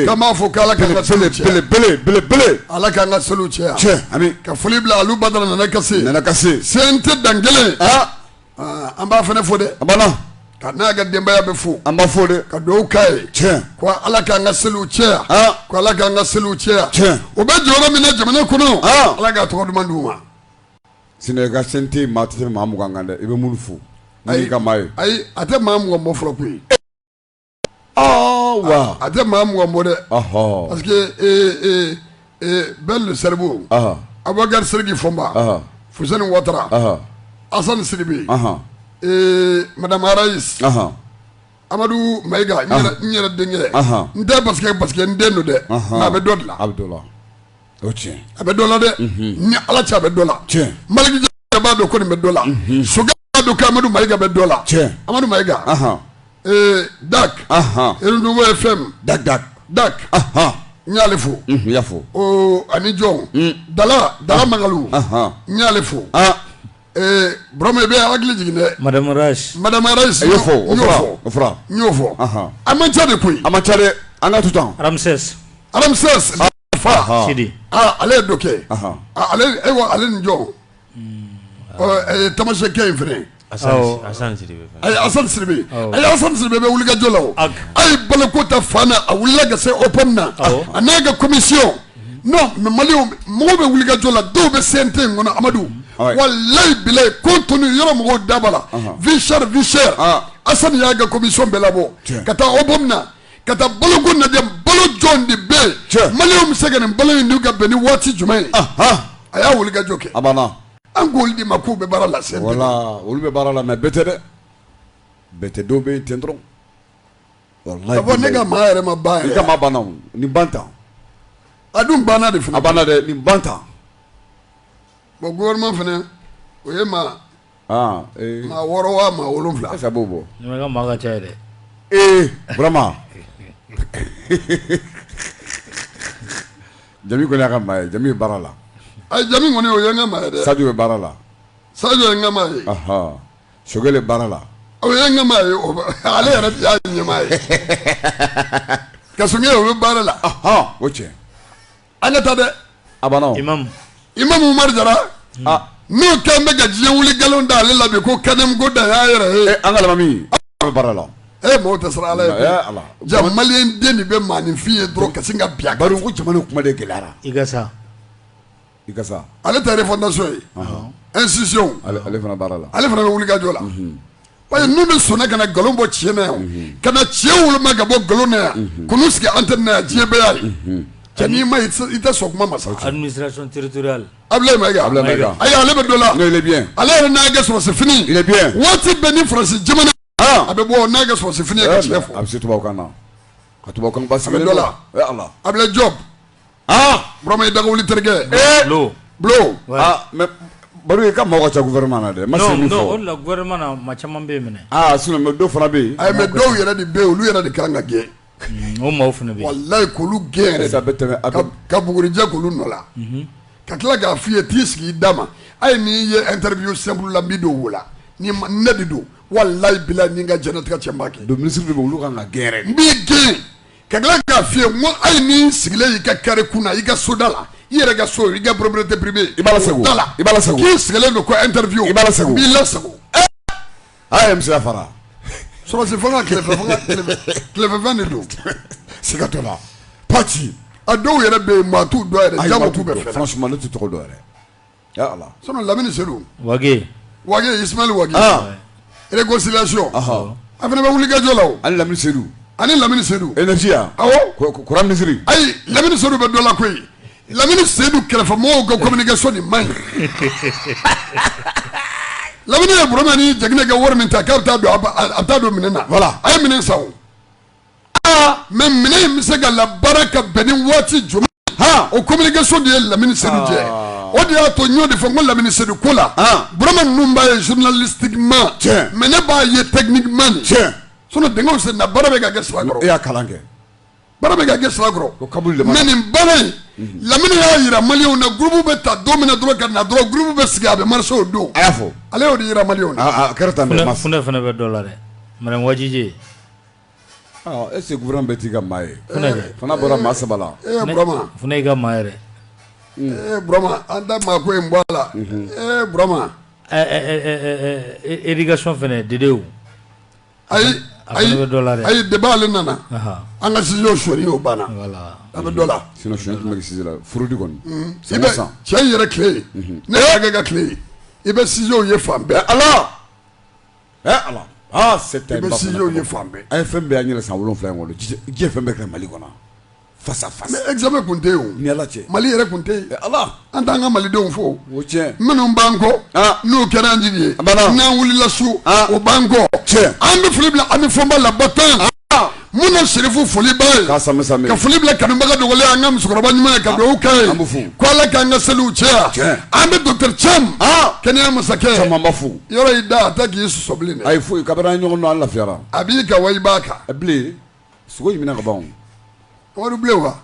ka b'a fɔ k'ala ka ka seli bele bele bele bele ala k'an ka seliw caya tiɲɛ ami ka foli bila alu badara nanakase nanakase CNT dan kelen aa ah, an b'a fana fo dɛ a banna ka n'a ka denbaya bɛɛ fo an b'a fo dɛ ka dugawu k'a ye tiɲɛ ko ala k'an ka seliw caya aa ko ala k'an ka seliw caya tiɲɛ o bɛ jɔyɔrɔ min na jamana kɔnɔ aa ala k'a tɔgɔ duman d'u ma sinon i ka CNT maa tɛ se maa mugan kan dɛ i bɛ minnu fo ayi ka maa ye ayi a tɛ maa mugan bɔ fɔlɔ koyi wa a tɛ maa mugan bɔ dɛ parce que bɛɛ le seribu abubakari sidiki fɔnba fuseni watara asan sidibe madama rayisi amadu mayiga n yɛrɛ denkɛ n tɛ parce que n den don dɛ a bɛ dɔ dilan a bɛ dɔ la a bɛ dɔ la dɛ ni ala cɛ a bɛ dɔ la maliki jawu b'a dɔn ko nin bɛ dɔ la sogɛli b'a dɔn ko amadu mayiga bɛ dɔ la amadu mayiga dak duuru ye fɛn da da da n y'ale fo fo ani jɔn mm. dala dala makalu n y'ale fo burama i b'an hakili jigin dɛ madama madama rayisi n y'o fɔ n y'o fɔ a man ca de koyi a man ca dɛ an ka to tan alamisa alamisa fa sidi ale ye dɔ kɛ ale ale ni jɔn tamasɛki in fana asan sidibe a ye asan sidibe bɛ wuli ka jɔ la a ye balo ko ta fan na a wulila ka se OPAM na a n'a ka komisiyɔn mɛ mali mɔgɔw bɛ wuli ka jɔ la dɔw bɛ CNT in kɔnɔ amadu walayi bilayi ko tun yɔrɔ mɔgɔw da b'a la vie chère vie chère asan y'a ka komisiyɔn bɛɛ labɔ ka taa OPAM na ka taa balo ko lajɛ balo joli de bɛ yen Tiɲɛ. maliyɛnw bɛ se ka nin balo in dun ka bɛn ni waati jumɛn ye Ahan, a y'a wuli ka jɔ kɛ a banna an k'olu de ma k'u bɛ baara la sɛbɛ la olu bɛ baara la mɛ bɛɛ tɛ dɛ bɛɛ tɛ dɔw bɛ yen ten dɔrɔn walayi ka fɔ ne ka maa yɛrɛ ma ban i yɛrɛ ka maa banna o nin ban tan a dun banna de a fana banna dɛ nin ban tan bɔ gouvernement fana o ye maa wɔɔrɔ wa maa wolo wolonwula a sababu bɔ makan cɛ dɛ vraiment jami kɔni y'a ka maa ye jami bɛ baara la a jami kɔni o ye n ka maa ye sajo bɛ baara la sajo ye n ka maa ye sogɛli bɛ baara la o ye n ka maa ye ale yɛrɛ y'a ɲɛmaa ye ko sogɛli o bɛ baara la o cɛ an ka taa dɛ a banna o. imamu imamu umaru jara ah. n'o kɛn bɛ ka diɲɛ wuli nkalon da ale la bi ko kanamu ko da y'a yɛrɛ ye. Eh, an ka alimami a bɛ baara la. e eh, mɔgɔw tɛ siran ala ɲɛ koyi ja maliyɛn den de bɛ maaninfin ye dɔrɔn ka sin ka bin a kan. bari ko jamana kuma de gɛlɛyara. ikasa. ikasa. ale ta refondation ye. institution. ale fana bɛ baara la. ale fana bɛ wuli ka jɔ la. Mhm. Parce que minnu sɔnna ka na nkalon bɔ tiɲɛ na yan, ka na tiɲɛ woloma ka bɔ nkalon na yan, ka n'u sigi antenne na yan diɲɛ bɛɛ y'a ye, cɛ n'i m'a ye i tɛ sɔn kuma ma sa, administration territoriale, Abulayi Mayiga, Abulayi Mayiga, ayi ale bɛ dɔ la, non il est bien, ale yɛrɛ n'a ka sɔrɔsi fini, il est bien, waati bɛɛ ni France jamana, han, a bɛ bɔ n'a ka sɔrɔsi fini ye ka tiɲɛ fɔ, a bɛ se tubabukan na, a ka tubabukan basigilen don, a bɛ dɔ la, e Ala, Abulayi Jɔpu Aa Burama i dagawuli terikɛ. Ee Bulo. Bulo. Wɛ. Aa mais Baro i ka maaw ka ca gouvernement na dɛ. N ma se min fɔ. Non non o de la gouvernement na maa caman bɛ yen mɛnɛ. Aa sinon mais dɔw fana bɛ yen. Ayi mais dɔw yɛrɛ de bɛ yen olu yɛrɛ de ka kan ka gɛn. Unhun o maaw fana bɛ yen. Walayi k'olu gɛn yɛrɛ de. Sisan a bɛ tɛmɛ a bɛ. Ka bugurijɛ k'olu nɔ la. Unhun. Ka tila k'a f'i ye t'i sigi i dama hali n'i ye interview simple la n b'i don wo la ni ne de don walayi bilayi ni n ka diɲɛnatigɛ cɛ n b'a kɛ. Donc ministre dɔw bɛ yen olu ka kan ka gɛn yɛrɛ de. N b'i gɛn. ka tila k'a f'i ye n ko hali n'i sigilen y'i ka carré kun na i ka soda la i yɛrɛ ka so i ka propriété privée i b'a lasago da la i b'a lasago k'i sigilen don ko interview i b'a lasago b'i lasago a ye musoya fara sɔrɔsi fanga tilefɛ fanga tilefɛfɛn de don siga t'o la pati a dɔw yɛrɛ bɛ yen maa t'u dɔn yɛrɛ jama t'u bɛɛ fɛ franchement ne tɛ tɔgɔ dɔn yɛrɛ lamini sedu wage wage isimayila wage réconciliation a fana bɛ wulikajɔ la ani lamini sedu ani lamini sedu énergie awɔ kuran minisiri ayi lamini sedu bɛ dɔ la koyi lamini seyidu kɛrɛfɛ mɔgɔw ka communication man ɲi lamini ye burama ni jɛgɛnɛ ka wari min ta k'a bɛ taa don a bɛ taa don mine na voilà a ye mine san aa mais mine in bɛ se ka labaara ka bɛn ni waati jumɛn ha o communication de ye lamini sedu jɛ ah. o de y'a to n y'o de fɔ n ko lamini sedu ko la ah. burama ninnu b'a ye journalistiquement tiɲɛ mais ne b'a ye techniquement de tiɲɛ sinon dingɛw senna baara bɛ ka kɛ sira kɔrɔ e y'a kalan kɛ baara bɛ ka kɛ sira kɔrɔ o kabuli lamini mais nin baara in mhm. lamini y'a yira maliyɛnw na groupe bɛ ta don min na dɔrɔn ka na dɔrɔn groupe bɛ sigi a bɛ marcher o don a y'a fɔ ale y'o de yira maliyɛnw na a kɛra tan dɛ funɛ fana bɛ dɔ la dɛ madame wajije E se g bɛ t'i ka maa ye fana bɔra maa saba la e i ka maa yɛrɛ burama an tɛ maa ko in bɔ a la burama éducation fana dedewu ayi ayi dɔ la dɛ ayi deba ale nana an ka sujet sonyali oo banna a bɛ dɔ la si furudi kɔni i bɛ cɛ yɛrɛ tile ne y'akɛ ka tile i bɛ sujetw ye fan bɛɛ ala ye fan a ye fɛn bɛɛ y' yɛlɛ san wolon wolonwula in kɔnɔ diɲɛ fɛn bɛɛ kɛra mali kɔnɔ fasa emi kun tɛ mali yɛrɛ kun tɛ ala an t'an ka malidenw fo minnu ban kɔ n'u kɛra an jigin ye n'an wulila su o ban kɔ an bɛ foli bila an bɛ fɔba la tan mun na serifu foli b'a ye ka foli bila kanubaga dogolen an ka musokɔrɔba ɲuman ye ka dugawu k'a ye ko ala k'an ka seliw caya an bɛ docteur cam kɛnɛya masakɛ cam an b'a fo yɔrɔ y'i da a tɛ k'i sɔsɔ bilen dɛ ayi foyi kabini an ɲɔgɔn dɔn an lafiyara a b'i kan wa i b'a kan bilen sogo ɲiminna ka ban wari bilen wa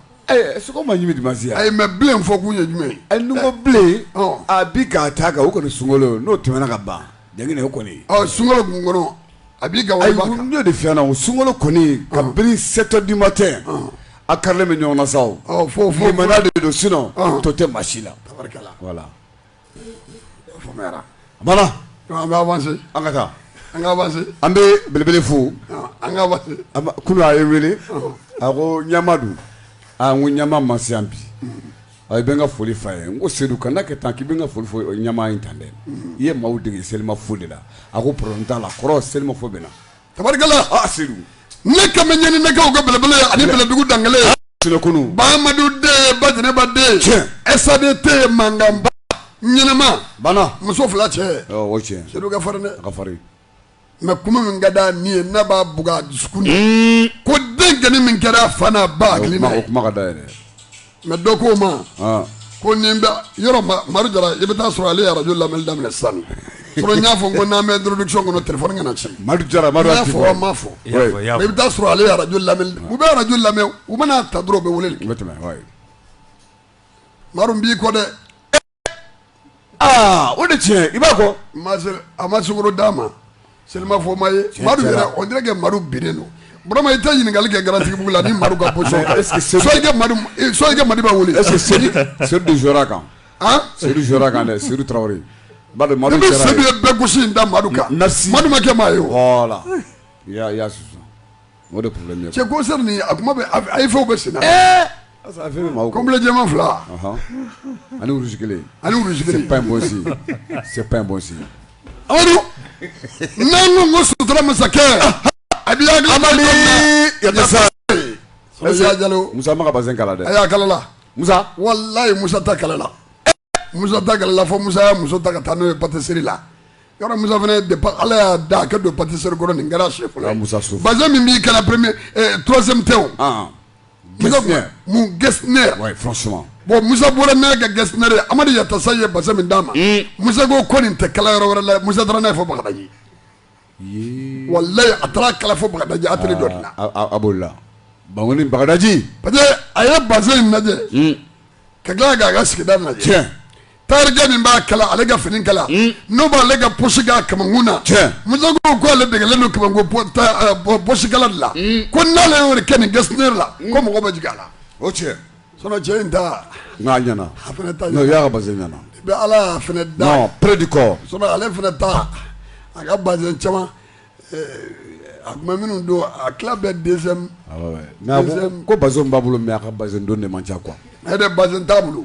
sogo ma ɲimi dimansi a ye mais bilen fɔ k'u ye jumɛn ye n ko bilen a bi k'a ta kan o kɔni sunkolo n'o tɛmɛna ka ban ja o kɔni sunkolo kun kɔnɔ a b'i ka n'o de fɛn na o sunkolo kɔni kabini sept heures du matin a karilen bɛ ɲɔgɔn na sa fo fo de don sinon tɔ tɛ maa si la voilà an bɛ belebele fo an ka avancer kunun a ye n wele a ko ɲama dun ko ɲama ma si yan bi a i bɛ n ka foli f'a ye n ko sedu kana kɛ tan k'i bɛ n ka foli fɔ ɲama in tan dɛ i ye maaw dege selimafo de la a ko problème t'a la kɔrɔ selimafo bɛ na tabarikala ne ka ɲani nɛgɛw ka belebele ani bɛlɛdugu dankelen bamadu den bajɛnɛba den ɛsaden tɛ mankanba ɲɛnɛma bana muso fila cɛ sedu ka farin dɛ ka farin mais kuma min ka da min ye n'a b'a b dusu ko denkɛnin min kɛra fana b'a hakili kuma ka da yɛrɛ mais dɔ ko n ma ko n'i bɛ yɔrɔ maru jara i bɛ taa sɔrɔ ale arajo lamɛnli daminɛ sisan sinon n y'a fɔ ko n'an bɛ introduction kɔnɔ téléphone kana na cɛ maru jara ma fɔ ma fɔ i bɛ taa sɔrɔ ale arajo lamɛn u bɛ arajo lamɛn u man'a ta dɔrɔn u bɛ wele maru n b'i kɔ dɛ aa o de tiɲɛ i b'a kɔ Ma se- a ma sukaro d'a ma selimafo ma ye madu cɛla. yɛrɛ on dirait que madu binnen don vraiment i tɛ ɲininkali kɛ garantigibugu la ni madu ka position Mais est-ce que Seydou- soit i ka madu eh, soit i ka madu b'a wele est-ce que Seydou Seydou de jouera kan Hein? Seydou jouera kan dɛ Seydou Traoré ba de ne Madu bɛ Traoré sedu ye bɛɛ gosi in da madu kan Merci. madu ma kɛ maa ye o voilà ya ya susu O de problème ye koyi, c'est concert nin a kuma bɛ AEF bɛ senna, ee, complet jɛman fila, ɔnhɔn, ani wulusi kelen, ani wulusi kelen, c'est pas un bon signe, c'est pas un bon signe, Amadu, n'an ko ko sutura masakɛ, a b'i hakili to Amadi Yasa, Yasa Jalo, Musa m'a ka bazɛn kala dɛ, ayi a kalala, Musa, walayi Musa ta kalala musa ta kalala fo musa y'a muso ta ka taa n'o ye patisiri la yɔrɔ musa fana de ala y'a da a ka don patisiri kɔrɔ nin kɛra sɛ fɔlɔ musa so bazɛn min b'i kan na premier eh, troisième tɛ o ah, musa mon gestionnaire ouais franchement bon musa bɔra ne ka gestionnaire amadu yatasa ye bazɛn min d'a ma hmm. musa ko ko nin tɛ kala yɔrɔ wɛrɛ la musa taara n'a ye fo bagadaji walayi a taara kala fo bagadaji a dɔ la a b'o la ba bagadaji pa a ye bazin lajɛ hmm. ka tila k'a ka sigida lajɛ cɛ tayɛrikɛ min b'a kala ale ka fini kala hmm. n'o b'ale ka pɔsi k'a kamakun na cɛ musa ko ale degelen don kamakun pɔsi kala de la hmm. ko n'ale y'o kɛ nin Getzner la ko mɔgɔ bɛ jigin a la o cɛ Sinon cɛ in ta n k'a ɲɛna a fana ta ɲɛna non i y'a ka bazin ɲɛna i bɛ Ala ye a fana ta non près du corps sinon ale fana ta a ka bazin caman a tun bɛ minnu don a tila bɛɛ deuxième mais a ko ko bazin min b'a bolo mais a ka bazin don de man ca quoi e de bazin t'a bolo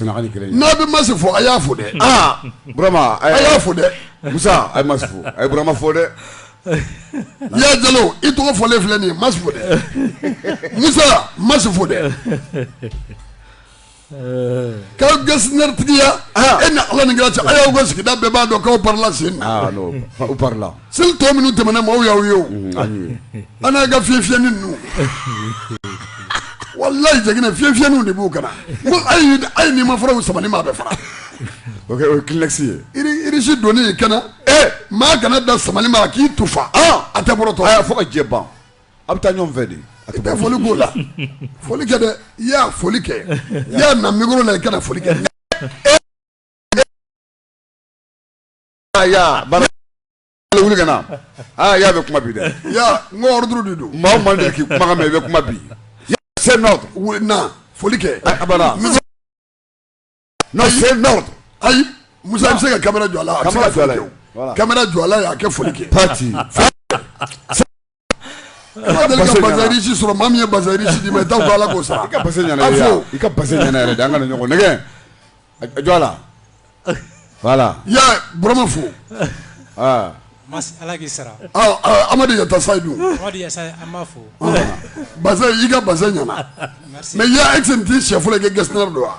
n'a bɛ masi fɔ a y'a fo dɛ burama a y'a fo dɛ musa ma fo a yema fɔ dɛ i y'a jalo i tɔgɔ fɔlen filɛ nin ma fo dɛ musa ma fo dɛ ka Getzner tigiya e ni ala ni cɛ a y'aw sigida bɛɛ b'a dɔn' sen seli tɔ minnu tɛmɛna maaw y'aw ye o an n'a ka fiɲɛ fiyɛni ninnu walayi jɛginɛ fiɲɛ fiyɛniw de b'u kan na ko ayi ayi n'i ma fara u samali ma a bɛ fara o kɛ o ye kleenex ye iri irisi don i kan na ɛ maa kana da samali ma k'i tufa a tɛ bɔrɔtɔ a y'a fɔ ka jɛ ban a bɛ taa ɲɔgɔn fɛ de a tɛ taa foli k'o la foli kɛ dɛ i y'a foli kɛ i y'a na mikoro la i kana foli kɛ Ah, ya bana wuli ka na aa ah, ya bɛ kuma bi dɛ ya n ko ordre de don maa o maa de k'i kumakan mɛ i bɛ kuma bi c'est un ordre wuli na foli kɛ a bana non c'est un ordre ayi musa i bɛ se ka kamera jɔ a la a bɛ se ka jɔ a la kamera jɔ a la y'a kɛ foli kɛ pati Ala deli ka bazin riche sɔrɔ maa min ye bazin riche d'i ma i t'a fɔ ala k'o sara i ka bazin ɲɛna i ka bazin ɲɛna yɛrɛ de an ka ɲɔgɔn nɛgɛ jɔ la wala ya burama fo ala k'i sara amadu ka taa sayidu fo bazin i ka bazin ɲɛna mais ya e tɛ t'i shɛfɔlɔ kɛ Getzner don wa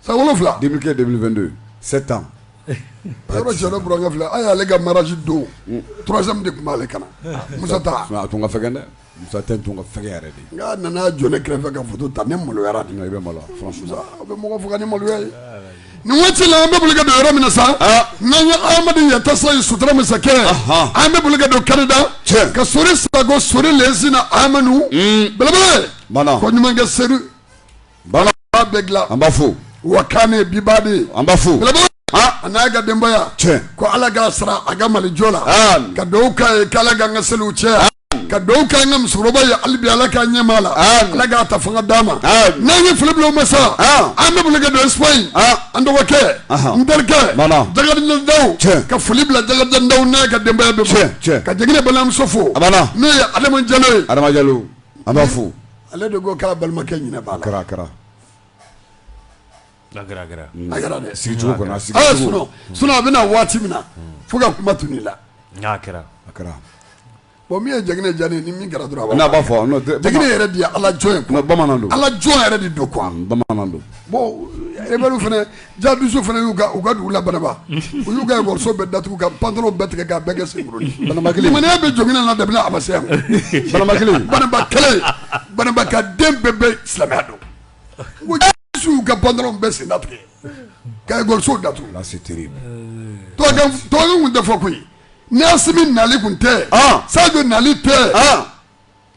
San wolonwula de kɛ de don se tan yɔrɔ cɛ bkɛ fila a y'ale ka maraji don troisième de tun b'ale kan na musa a tun ka fɛn dɛ musa tɛ tun ka fɛn yɛrɛ de n'a nana jɔn ne kɛrɛfɛ ka foto ta ne maloyara i bɛ malo bɛ mɔgɔ fo ni maloya ye nin waati ci la an bɛ bulu don yɔrɔ min sa n'an ye adama yatasa ye sutura masa kɛ an bɛ bulu don kɛnɛda cɛ ka so saba so lesi na amadu bɛɛ ko ɲumankɛ se Bana bɛɛ dilan an b'a fo wa kan ne biba de ye an b'a fo a n'a ka denbaya cɛ ko ala k'a sara a ka mali jɔ la ka dugaw k'a ye k'ala k'an ka seliw cɛ ka dugaw kɛ an ka musokɔrɔba ye hali bi ala k'an ɲɛmaa la ala k'a ta fanga d'a ma n'an ye foli bila o ma sa an bɛ boli ka don Espagne an dɔgɔkɛ n terikɛ dagadindaw ka foli bila dagadindaw n'a ka denbaya bɛ fɛ ka jigin balimamuso fo n'o ye adama jalo ye adama jalo an b'a fo Ale de ko k'a balimakɛ ɲɛnafin b'a la, a kɛra a kɛra, a kɛra, a kɛra dɛ, sigicogo kɔni, a sigicogo, a y'a sɔrɔ sinon a bɛna waati min na fo ka kuma tunu i la, a kɛra, a kɛra, bon min ye Jɛgɛnɛ diya ne ye ni min kɛra dɔrɔn, a b'a fɔ, Jɛgɛnɛ yɛrɛ de ye Alajɔn ye, bamanan don, Alajɔn yɛrɛ de don quoi, bamanan don, bon rebelles fana Jihadisiw fana y'u u ka dugu la Banamba u y'u ka muso bɛɛ datugu ka pantalon bɛɛ tigɛ ka bɛɛ kɛ sen bana kelen ma bɛ jɔn na da a ma se yan bana kelen Banamba kelen Banamba ka den bɛɛ bɛ silamɛya don y'u ka pantalon bɛɛ sen tigɛ ka muso datugu tɔn tun tɛ fɔ koyi nasi nali tun tɛ sadu nali tɛ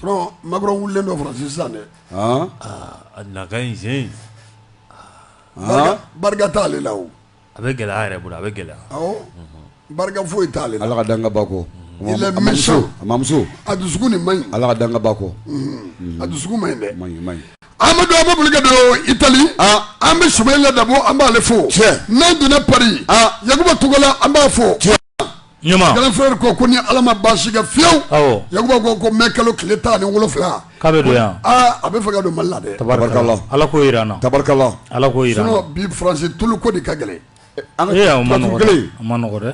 sinon Macron wulilen don France sisan dɛ, an, a na ka ɲi sen in, an, barika t'ale la o, a bɛ gɛlɛya a yɛrɛ bolo a bɛ gɛlɛya, awɔ, barika foyi t'ale la, Ala ka dan kɛ baa kɔ, il est méchant, a mamuso, a dusukun de man ɲi, Ala ka dan kɛ baa kɔ, unhun, a dusukun man ɲi dɛ, man ɲi man ɲi. Amadu an bɛ boli ka don Itali, an bɛ Sumayila Dabo an b'ale fo, tiɲɛ, n'an donna Paris, Yakuba Togola an b'a fo, tiɲɛ. ɲuman grand frère ko ko ni ala ma baasi kɛ fiyewu awɔ yakuba ko ko mɛ kalo tile tan ni wolonfila k'a bɛ don yan aa a bɛ fɛ ka don mali la dɛ tabarikala ala k'o jira an na tabarikala ala k'o jira an na sinon bi faransi tulu ko de ka gɛlɛn an ee a ma nɔgɔ dɛ gɛlɛn a ma nɔgɔ dɛ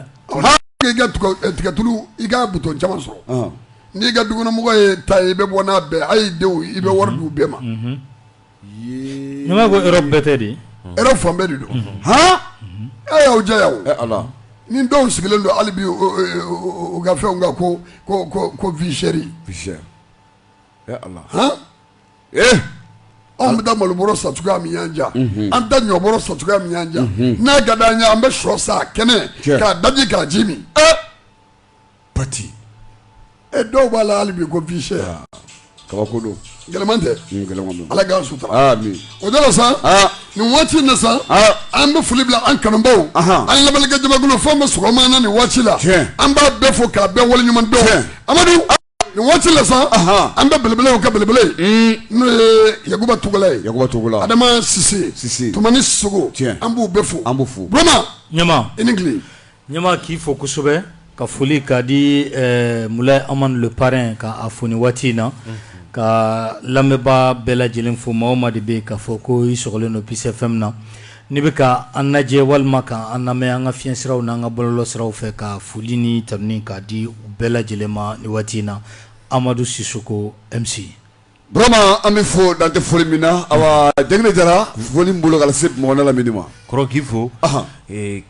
i ka tuga- eh, tigatulu i ka butɔn caman sɔrɔ ɔn n'i ka dukɔnɔmɔgɔ ye tan ye i bɛ bɔ n'a bɛɛ a y'i denw i bɛ wari di u bɛɛ ma N y'a mɛn ko Europe bɛɛ tɛ dɛ Europe fan bɛɛ de don hɔn e y'aw diya ala ni dɔw sigilen don hali bi u ka fɛn ka ko ko vie chère ala ee an bɛ taa malo bɔrɔ san cogoya min yan jan an da ɲɔ bɔrɔ san cogoya min yan jan n'a ka di an ɲɛ an bɛ shɔ sa kɛnɛ k'a daji k'a ji min pati ɛ dɔw b'a la hali bi ko vie chère aa kabako don gɛlɛman tɛ un gɛlɛman don Ala k'an sutura aa amin o de la sa aa nin waati in na sa aa an bɛ foli bila an kanubaw Ahan. an lamɛnnikɛ jamakulu fan bɛɛ sɔgɔma na nin waati la Tiɲɛ. an b'a bɛɛ fo k'a bɛɛ waleɲuman dɔn Tiɲɛ. Amadu nin waati la sa an bɛ belebele ka belebele n'o ye yakuba tugula ye yakuba tugula adama sise sise tumani sogo an b'u bɛɛ fo an b'u fo burama ɲama i ni tile ɲama k'i fo kosɛbɛ ka foli ka di eh, mulayi amadu le parrain ka a fo ni waati in na ka lamɛnbaa bɛɛ lajɛlen fo maa o maa de bɛ yen k'a fɔ ko i sɔgɔlen don Peace FM na N'i bɛ ka an lajɛ walima ka an lamɛn an ka fiɲɛsiraw n'an ka bɔlɔlɔ siraw fɛ ka foli ni tanuni ka di u bɛɛ lajɛlen ma ni waati in na amadu sisoko MC burama an bɛ fo dan tɛ foli min na a dɛ jara foli bolo ka se mɔn la ma kɔrɔkii fo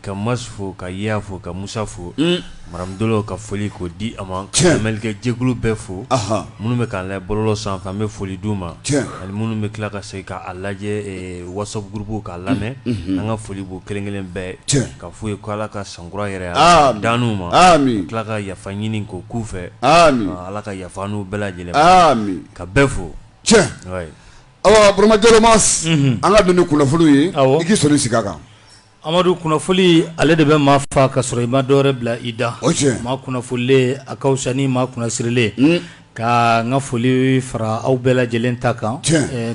ka ma fo ka ya fo ka musa fo Maramu dolo ka foli ko di a ma cɛkɛ jɛkulu bɛɛ fo minnu bɛ k'a la bɔlɔlɔ sanfɛ an bɛ foli d'u ma ani minnu bɛ tila ka se k'a lajɛ WhatsApp groupe k'a lamɛn an ka foli b'u kelenkelen bɛɛ ye k'a f'u ye ko ala ka sankura hɛrɛ d'an ma tila ka yafa ɲini ko k'u fɛ ala ka yafa anw bɛɛ lajɛlen ka bɛɛ fo burama an ka don ni kunnafoniw ye k'i sɔn sigi kan Amadu kunnafoni ale de bɛ maa fa ka sɔrɔ i ma dɔ yɛrɛ bila i da o maa kunnafonilen a ka fisa ni maa kunnasirilen ka n ka foli fara aw bɛɛ lajɛlen ta kan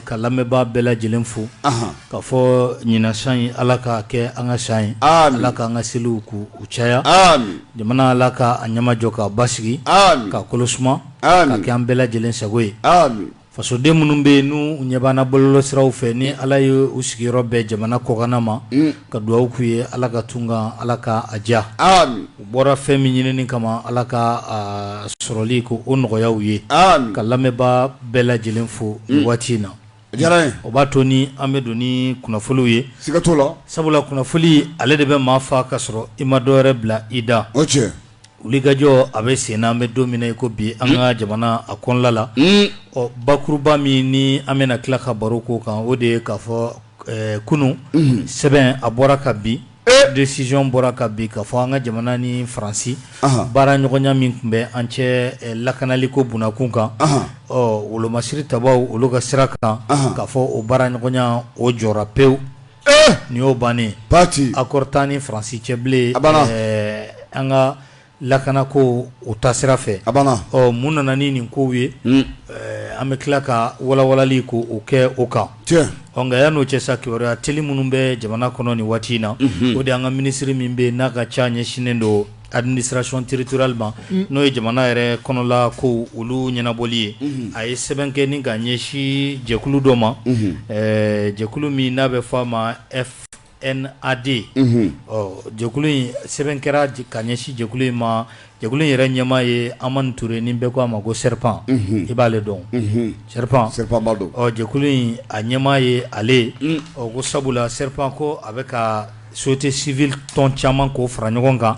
ka lamɛnbaa bɛɛ lajɛlen fo k'a fɔ ɲinan san in ala k'a kɛ an ka san ye ala k'an ka seliw ko u caya jamana ala k'a ɲɛmajɔ k'a basigi ka kolo suma k'a kɛ an bɛɛ lajɛlen sago ye fasoden minnu bɛ yen n'u ɲɛ b'an na bɔlɔlɔ siraw fɛ ni ala ye u sigiyɔrɔ bɛn jamana kɔkanna ma mm. ka dugawu k'u ye ala ka tunga ala ka a diya u bɔra fɛn min ɲinini kama ala k'a sɔrɔli ko o nɔgɔya u ye ka lamɛnba bɛɛ lajɛlen fo mm. waati in na o b'a to ni an bɛ don ni kunnafoniw ye sabula kunnafoni ale de bɛ maa fa ka sɔrɔ i ma dɔ yɛrɛ bila i da wulikajɔ a bɛ sen na an bɛ don min na i ko bi an ka jamana a kɔnɔla la ɔ bakuruba min ni an bɛna tila ka baro ko kan o de ye k'a fɔ kunun sɛbɛn a bɔra ka bin décision bɔra ka bin k'a fɔ an ka jamana ni faransi baara ɲɔgɔnya min tun bɛ an cɛ lakanali ko bkun kan ɔ wolomasiri tabaw olu ka sira kan k'a fɔ o baara ɲɔgɔnya o jɔra pewu nin y'o bannen pati accord t'an ni faransi cɛ bilen an ka lakana ko o ta sira fɛ a ɔ mun nana ni nin ko ye an bɛ tila ka walawalanli ko o kɛ o kan ɔ yanni o cɛ sa kibaruya teli minnu bɛ jamana kɔnɔ ni waati in na o de an ka minisiriri min bɛ n'a ka ca ɲɛsinnen don Administration territoriale ma n'o ye jamana yɛrɛ kɔnɔla ko olu ɲɛnabɔli ye a ye sɛbɛn kɛ ni ka ɲɛsin jɛkulu dɔ ma jɛkulu min n'a bɛ fɔ a ma FNAD ɔ jɛkulu in sɛbɛn kɛra ka ɲɛsin jɛkulu in ma jɛkulu in yɛrɛ ɲɛmaa ye Hamane Touré ni bɛɛ k' a ma ko Serpent i b'ale dɔn sɛ don jɛkulu in a ɲɛmaa ye ale ɔ ko sabula Serpent ko a bɛ ka société civile tɔn caman k'o fara ɲɔgɔn kan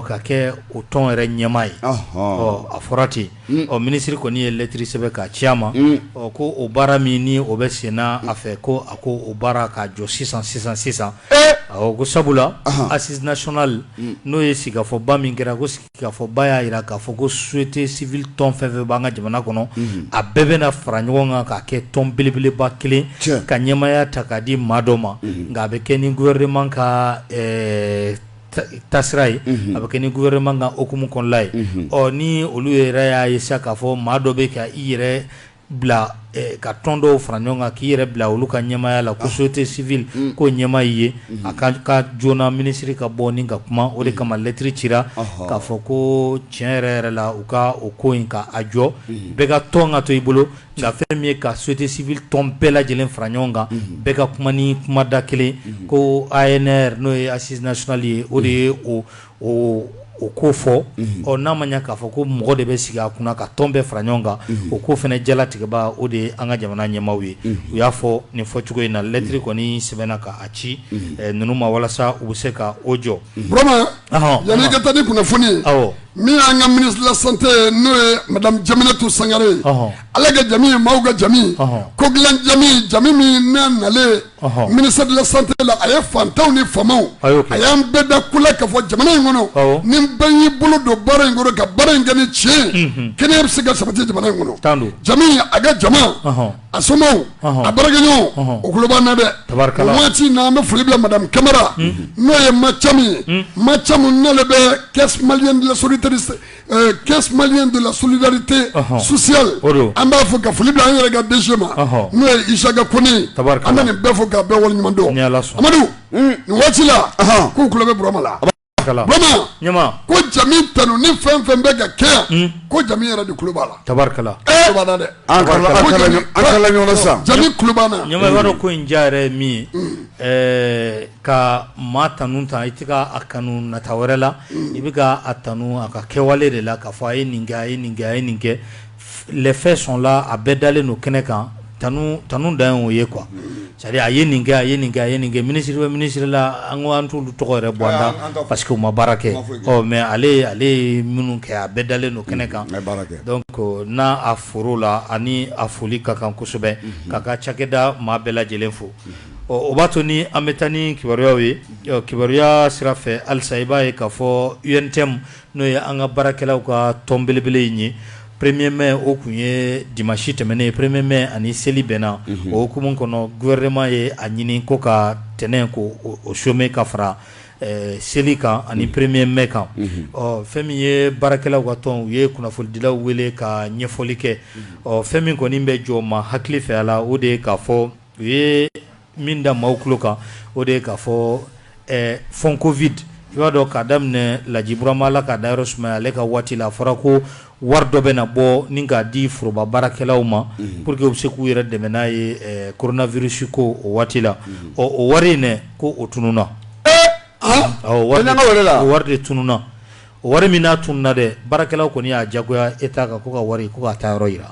ka kɛ o tɔn yɛrɛ ɲɛmaa ye ɔ a fɔra ten ɔ minisiri kɔni ye lɛtiri sɛbɛn k'a ci a ma ɔ ko o baara min ni o bɛ senna a fɛ ko a ko o baara ka jɔ sisan sisan sisan ko sabula assises nationales n'o ye sigikafɔba min kɛra ko sigi kafɔba y'a jira k'a fɔ ko société civile tɔn fɛn fɛn b'an ka jamana kɔnɔ a bɛɛ bɛna fara ɲɔgɔn kan k'a kɛ tɔn belebeleba kelen ka ɲɛmaya ta k'a di maa dɔ ma nka a bɛ kɛ ni gouvernement ka tasira ye a bɛ kɛ ni gouvernement ka hukumu kɔnɔla ye ɔ ni olu yɛrɛ y'a ye sa k'a fɔ maa dɔ bɛ ka i yɛrɛ bila ka tɔn dɔw fara ɲɔgɔn kan k'i yɛrɛ bila olu ka ɲɛmaya la ko société civile ko ɲɛmaa ye a ka kan joona minisiri ka bɔ ni ka kuma o de kama lɛtiri cira k'a fɔ ko tiɲɛ yɛrɛ yɛrɛ la u ka o ko in ka a jɔ bɛɛ ka tɔn ka to i bolo nka fɛn min ye ka société civile tɔn bɛɛ lajɛlen fara ɲɔgɔn kan bɛɛ ka kuma ni kumada kelen ko ANR n'o ye assises nationales ye o de ye o o o ko fɔ ɔ n'a ma k'a fɔ ko mɔgɔ de bɛ sigi a kunna ka tɔn bɛɛ fara ɲɔgɔn kan o ko fana jalatigɛba o de ye an ka jamana ɲɛmaaw ye u y'a fɔ nin fɔ cogo in na lɛtri kɔni sɛbɛnna k'a ci ninnu ma walasa u bɛ se ka o jɔ yananita ni kunnafoni min y'an ka ministre de la santé n'o ye madame Jeminatu Sangare ye ale ka jamu ye mɔgɔw ka jamu ko dilanmi jamu min na nalen ministère de la santé la a ye fantanw ni faamaw a y'an bɛɛ da ku k'a fɔ jamana in kɔnɔ ni bɛɛ y'i bolo don baara in kɔrɔ ka baara in kɛ ni tiɲɛ kɛnɛya bɛ se ka sabati jamana in kɔnɔ Jami a ka jama a somaaw a baarakɛɲɔgɔn o tulo b'an na dɛ waati in na an bɛ foli bila madame Kamara n'o ye Ma Camu ye Ma Camu ale bɛ caisse malienne de la solidarité Euh, caisse malienne de la solidarité sociale an b'a fo ka foli bila an yɛrɛ ka DG ma n'o ye Isaka Kone an bɛ nin bɛɛ fo k'a bɛɛ waleɲuman dɔn Amadu nin waati la k'u tulo bɛ Burama la Burama ko jami tanu ni fɛn fɛn bɛ ka kɛ yan hmm. ko jami yɛrɛ de tulo b'a la tabarikala eh! tulo b'a la dɛ an kala ɲɔgɔn na sisan jami tulo b'an na ɲama i b'a dɔn ko in diya yɛrɛ ye min ye hmm. eh, ka maa tanu ta i tɛ ka a kanu nata wɛrɛ la i bɛ ka a tanu a ka kɛwale de la k'a fɔ a ye nin kɛ a ye nin kɛ a ye nin kɛ les faits sont là a bɛɛ dalen don kɛnɛ kan tanu tanu dan ye o ye quoi c'est à dire a ye nin kɛ a ye nin kɛ a ye nin kɛ ministre bɛ ministre la an ko an t'olu tɔgɔ yɛrɛ bɔ an da parce que u ma baara kɛ ɔ mais ale ale ye minnu kɛ a bɛɛ dalen don kɛnɛ kan donc n'a a for'o la ani a foli ka kan kosɛbɛ k'a ka cakɛda maa bɛɛ lajɛlen fo ɔ o b'a to ni an bɛ taa ni kibaruyaw ye kibaruya sira fɛ halisa i b'a ye k'a fɔ UNTM n'o ye an ka baarakɛlaw ka tɔn belebele in ye premier mai o tun ye dimansi tɛmɛnen ye premier mai ani seli bɛnna o hukumu kɔnɔ gouvernement ye a ɲini ko ka tɛnɛn ko o chômé ka fara seli kan ani premier mai kan ɔ fɛn min ye baarakɛlaw ka tɔn u ye kunnafonidilaw wele ka ɲɛfɔli kɛ ɔ fɛn min kɔni bɛ jɔ maa hakili fɛ a la o de ye k'a fɔ u ye min da maaw tulo kan o de ye k'a fɔ fonds covid i b'a dɔn k'a daminɛ Laji Burama Ala k'a dayɔrɔ sumaya ale ka waati la a fɔra ko wari dɔ bɛ na bɔ ni k'a di foroba baarakɛlaw ma pour que u bɛ se k'u yɛrɛ dɛmɛ n'a ye koronavirisi ko o waati la ɔ o wari in dɛ ko o tununna wari la wari de tununna o wari min n'a tununna dɛ baarakɛlaw kɔni y'a jagoya État kan ko ka wari ko k'a taayɔrɔ jira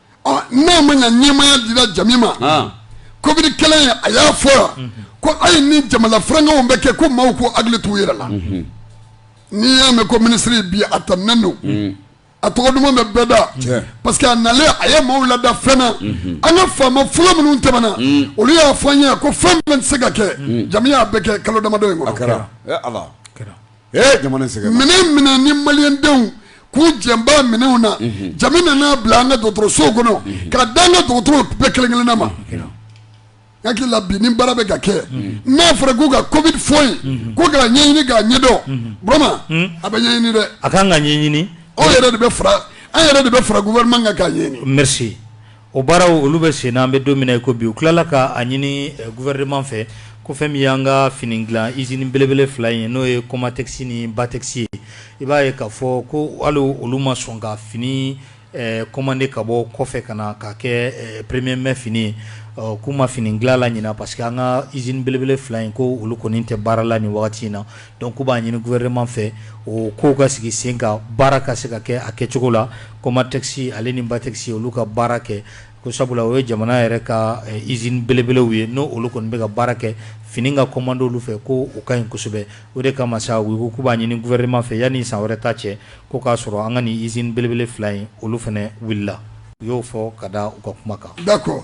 n'a ma ɲɛmaaya dira Jami ma covid kɛlɛ a y'a fɔ yan ko ayi ni jamana fɛnkɛw bɛ kɛ ko maaw ko hakili t'u yɛrɛ la n'i y'a mɛn ko minisiri bi a tanunen don a tɔgɔ duman bɛ bɛɛ da parce que a nalen a ye maaw lada fɛn na an ka faama fɔlɔ minnu tɛmɛna olu y'a fɔ an ye ko fɛn tɛ se ka kɛ Jami y'a bɛɛ kɛ kalo damadɔ in kɔnɔ minɛ ni malidenw k'u jɛba minɛnw na nana bila an ka dɔgɔtɔrɔso kɔnɔ ka d'an ka dɔgɔtɔrɔ bɛɛ kelen kelen ma n hakili la bi nin baara bɛ ka kɛ n'a fɔra k'u ka covid fonds ko ka ɲɛɲini k'a ɲɛdɔn Burama a bɛ ɲɛɲini dɛ a ka kan ka ɲɛɲini n yɛrɛ de bɛ fara an yɛrɛ de bɛ fara gouvernement kan ka ɲɛɲini O baaraw olu bɛ sen na an bɛ don min na i ko bi u tilala ka a ɲini gouvernement fɛ ko fɛn min y'an ka fini dilan izini belebele fila in ye n'o ye kɔmatɛsi ni batɛsi ye i b'a ye k'a fɔ ko hali olu ma sɔn ka fini kɔmande ka bɔ kɔfɛ ka na ka kɛ premier mai fini ye k'u ma fini dilanna ɲini parce que an ka izini belebele fila in ko olu kɔni tɛ baara la nin wagati in na Donc k'u b'a ɲini gouvernement fɛ o kow ka sigi sen kan baara ka se ka kɛ a kɛcogo la kɔmatɛsi ale ni batɛsi olu ka baara kɛ ko sabula o ye jamana yɛrɛ ka izini belebelew ye n' olu kɔni bɛ ka baara kɛ fini ka kɔmande olu fɛ ko o ka ɲi kosɛbɛ o de kama sa u k'u b'a ɲini gouvernement fɛ yanni san wɛrɛ ta cɛ ko k'a sɔrɔ an ka nin izini belebele fila in olu fana wulila u y'o fɔ ka da u ka kuma kan da kɔ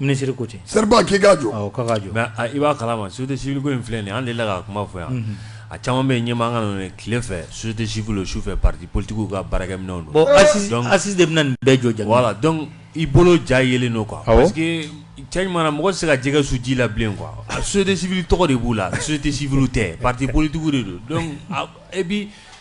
Minisiri ko ten seri k'i ka jɔ i b'a kala ma société civile in filɛ nin an de la ka kuma fɔ yan a caman bɛ ɲɛ an ka tile fɛ société civile su fɛ pati politigiw ka baarakɛminɛnw don ayisesi de bɛna nin bɛɛ jɔ voilà donc i bolo ja yelen don quoi parce que cɛ mana mɔgɔ se ka jɛgɛ su ji la bilen quoi société civile tɔgɔ de b'u la société civile tɛ pati politigiw de don donc a bi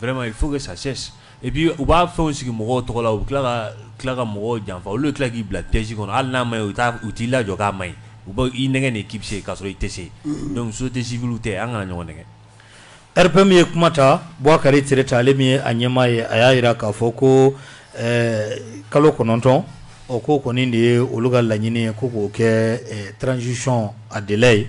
Vma ye fo ka sa bi u b'a fɛnw sigi mɔgɔw tɔgɔ la u tila tila ka mɔgɔw janfa olu tila k'i bila tɛsi kɔnɔ hali n'a ma ye u u t'i lajɔ k'a man ɲi u b' i nɛgɛn de k'i bɛ se ka sɔrɔ i tɛ se donc société civile tɛ an kana ɲɔgɔn nɛgɛn p min ye kuma ta Bokari Tereta ale min ye a ɲɛmaa ye a y'a jira k'a fɔ ko kalo kɔnɔntɔn o ko kɔni de ye olu ka laɲini ye ko k'o kɛ transition délai ye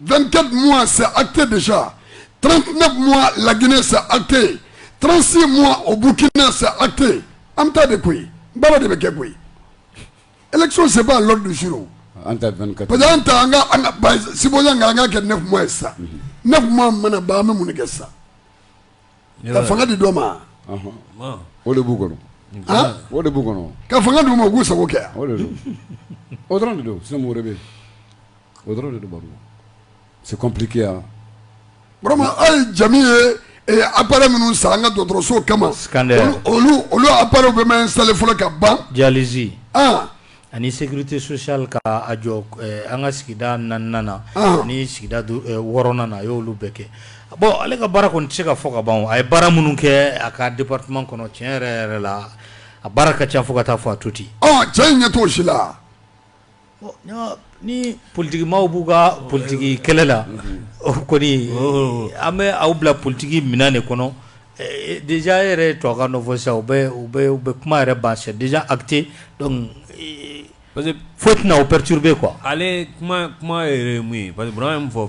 24 mois c'est acté déjà 39 mois la Guinée c'est acté 36 mois au Burkina c'est acté an bɛ taa de koyi baara de bɛ kɛ koyi élection c'est pas l'ordre du jour an ta 24 parce que an ta an ka an ka ba sibonya nka an k'a kɛ 9 mois ye sa 9 mois mana ban an bɛ mun de kɛ sa ka fanga di dɔ ma o de b'u kɔnɔ han o de b'u kɔnɔ ka fanga d'u ma u k'u sago kɛ yan o de don o dɔrɔn de don sinon mɔgɔ wɛrɛ bɛ yen O dɔrɔn de don baro la c'est compliqué hein vraiment hali jamu ye ee appareil minnu san an ka dɔgɔtɔrɔsow kama scanner olu olu olu appareils bɛɛ ma installer fɔlɔ ka ban dialyse an ani sécurité sociale ka a jɔ ɛɛ an ka sigida naaninan na an ani sigida du ɛɛ wɔɔrɔnan na a y'olu bɛɛ kɛ bon ale ka baara kɔni tɛ se ka fɔ ka ban o a ye baara minnu kɛ a ka département kɔnɔ tiɲɛ yɛrɛ yɛrɛ la a baara ka ca fo ka taa fɔ a to ten ɔ cɛ in ɲɛ t'o si la Ni politigi maaw b'u ka politigi kɛlɛ la kɔni an bɛ aw bila politigi minɛn de kɔnɔ déjà yɛrɛ to ka fɔ sa u bɛ kuma yɛrɛ ba c'est déjà acté parce que foyi tɛna o perturber quoi ale kuma yɛrɛ mun ye parce que bɔra ye fɔ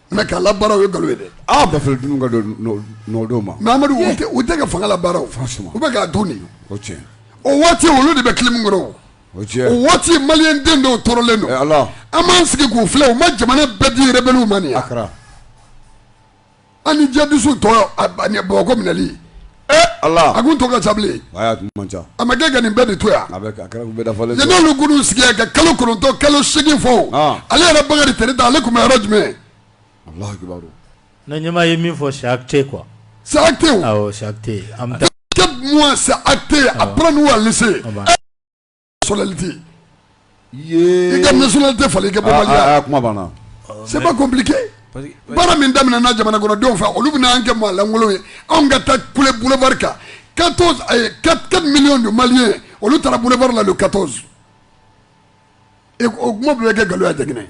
Mɛ ka labaara ye nkalon ye dɛ aw bɛɛ fɛ dun ka nɔdenw Mamadu u tɛ ka fanga labaara u bɛ k'a dun de o cɛ o waati olu de bɛ clim kɔrɔ o o waati maliden dɔw tɔɔrɔlen don ala an b'an sigi k'u filɛ u ma jamana bɛɛ di rebɛliw ma a kɛra an ni jadisiw to ɲɔgɔn bolo ko minɛli Ala a ko to ka sabali a ma gɛn ka nin bɛɛ de to yan n'olu sigi ka kalo kɔnɔntɔn kalo segin fɔ ale yɛrɛ Bokari Tereta ale tun bɛ yɔrɔ jumɛn ɲɛmaa ye min fɔ c'est acté quoi c'est acté a bɛ n'u' sɔlɛlite yee i ka nationalité falen i ka bɔ ah, Mali la ah, ah, kuma banna c'est pas compliqué baara min daminɛna jamanakɔnɔdenw fɛ olu bɛna an kɛ maa lankolon ye anw ka taa kule boulevard kan 14 4 millions de maliens olu taara boulevard la le 14 o kuma bɛɛ bɛ kɛ nkalon ye a tɛ kɛ tiɲɛ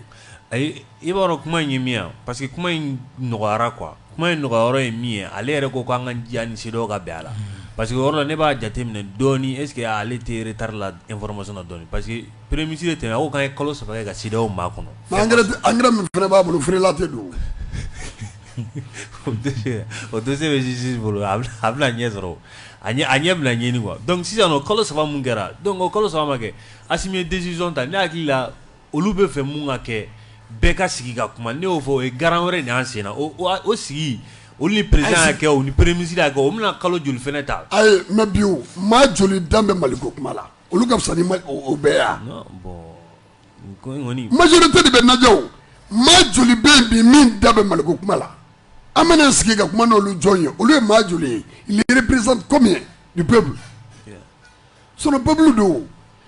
ye I b'a dɔn kuma in ye min parce que kuma in nɔgɔyayɔrɔ kuma in nɔgɔyayɔrɔ ye min ye ale yɛrɛ ko k'an ka diya ni CEDEAO ka bɛn a la parce que yɔrɔ la ne b'a jateminɛ dɔɔnin est-ce que ale teri tari la e fɔlɔma dɔn parce que premier ministre de tɛmɛ o ka ye kalo saba ka six mois kɔnɔ an min fana b'a bolo feerela tɛ don o tɛ se bɛsi bolo a bɛna ɲɛ sɔrɔ a ɲɛ bila ɲini quoi donc sisan kalo saba min kɛra don kalo saba kɛ a ye décision ta ne hakili la olu b'a fɛ mun ka kɛ bɛɛ ka sigi ka kuma ne y'o fɔ o ye garan wɛrɛ de y'an senna o o o sigi olu ni président y'a kɛ o ni premier ministre y'a kɛ o bɛna kalo joli fana ta ayi mais bi o maa joli da bɛ Mali ko kuma la olu ka fisa ni maa o o bɛɛ ye a non bon nin ko in kɔni majorité de bɛ najɛ o maa joli bɛ yen bi min da bɛ Mali ko kuma la an bɛna sigi ka kuma n'olu jɔn ye olu ye maa joli ye ils représentent combien du peuple Sinon peuple don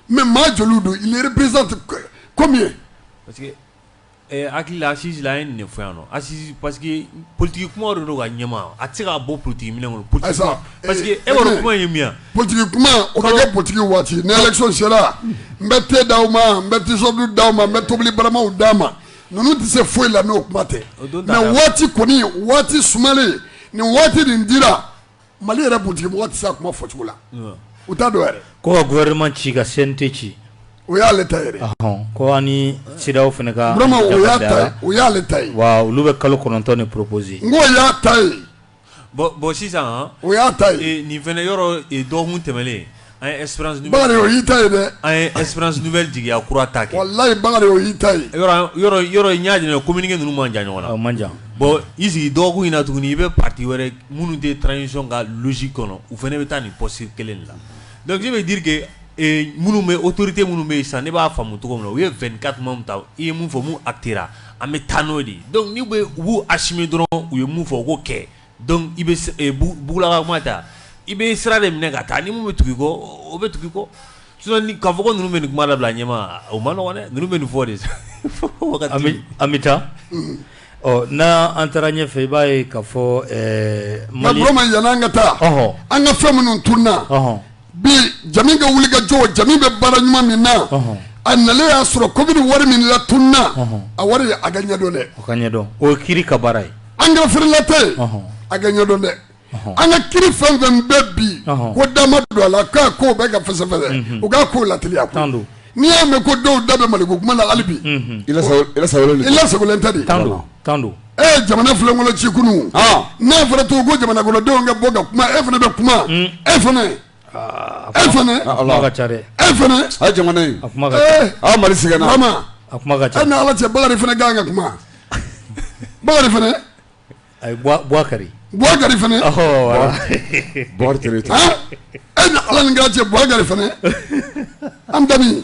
mais maa joli don ils représentent combien parce que hakili asisi a ye nin fɔ yan ayisi parce que politigi kuma de don ka ɲɛma a tɛ se k'a bɔ politigi minɛn kɔnɔ p parce que e kuma ye mi politigi kuma o bɛ kɛ politigi waati ni élection sera n bɛ te d'aw ma n bɛ t-shirt d'aw ma n bɛ tobili baramaw d'aw ma ninnu tɛ se foyi la n'o kuma tɛ mais waati kɔni waati sumalen nin waati nin dira Mali yɛrɛ politigimɔgɔw tɛ se a kuma fɔcogo la u t' dɔw yɛrɛ ko ka gouvernement ci ka CNT ci o y'ale ta ye ko an ni CEDEAO fana ka bɛn o y'ale ta ye wa olu bɛ kalo kɔnɔntɔn nin proposer nka o y'a ta ye bon sisan o y'a ta ye nin fana yɔrɔ dɔgɔkun tɛmɛnen An ye espérance nouvelle Bakari o y'i ta ye dɛ, an ye espérance nouvelle jigiya kura ta kɛ, walahi Bakari o y'i ta ye, yɔrɔ yɔrɔ n y'a jateminɛ communiqué ninnu man jan ɲɔgɔn na, o man jan, bon i sigi dɔgɔkun in na tuguni i bɛ parti wɛrɛ minnu tɛ transition ka logique kɔnɔ u fana bɛ taa nin posture kelen de la donc ça veut dire que ee minnu bɛ autorités minnu bɛ yen sisan ne b'a faamu cogo min na u ye 24 mois min ta u ye min fɔ min acter ra an bɛ taa n'o de ye donc n'u bɛ u b'u assumer dɔrɔn u ye min fɔ u k'o kɛ Donc i bɛ peuple ka kuma ta i bɛ sira de minɛ ka taa ni min bɛ tugu i kɔ o bɛ tugu i kɔ k'a fɔ ninnu bɛ nin kuma la bila ɲɛ o man nɔgɔ ninnu bɛ nin fɔ de sa an bɛ taa ɔ n' an taara ɲɛ fɛ i b'a ye k'a fɔ ma ɲ ka taa an ka fɛn minnu tun na bi jamu ka wuli ka jɔ jamu bɛ baara ɲuman min na a na y'a sɔrɔ ko bɛ wari min la tununina a wari a ka ɲɛdɔn dɛ ka ɲɛdɔn o kiiri ka baara ye an ka flatɛ a ka ɲɛdɔn dɛ an ka kiiri fɛn fɛn bɛɛ bi ko dama don a la k'a ko bɛ ka fɛsɛfɛsɛ u k'a ko latilen tan don n'i y'a mɛn ko dɔw da bɛ mali ko kuma la alibi tɛ tan tan don e ye jamana filankolo ci kunun n'a fɔra to ko jamanakɔnɔdenw ka bɔ ka kuma e fana bɛ kuma mm. e fana e fana e fana a jamana in a mari sɛgɛnna e ni ala cɛ bakari fana ka kan ka kuma bakari fana a ye buwakari buwakari fana e ni ala ni kira cɛ buwakari fana an dabi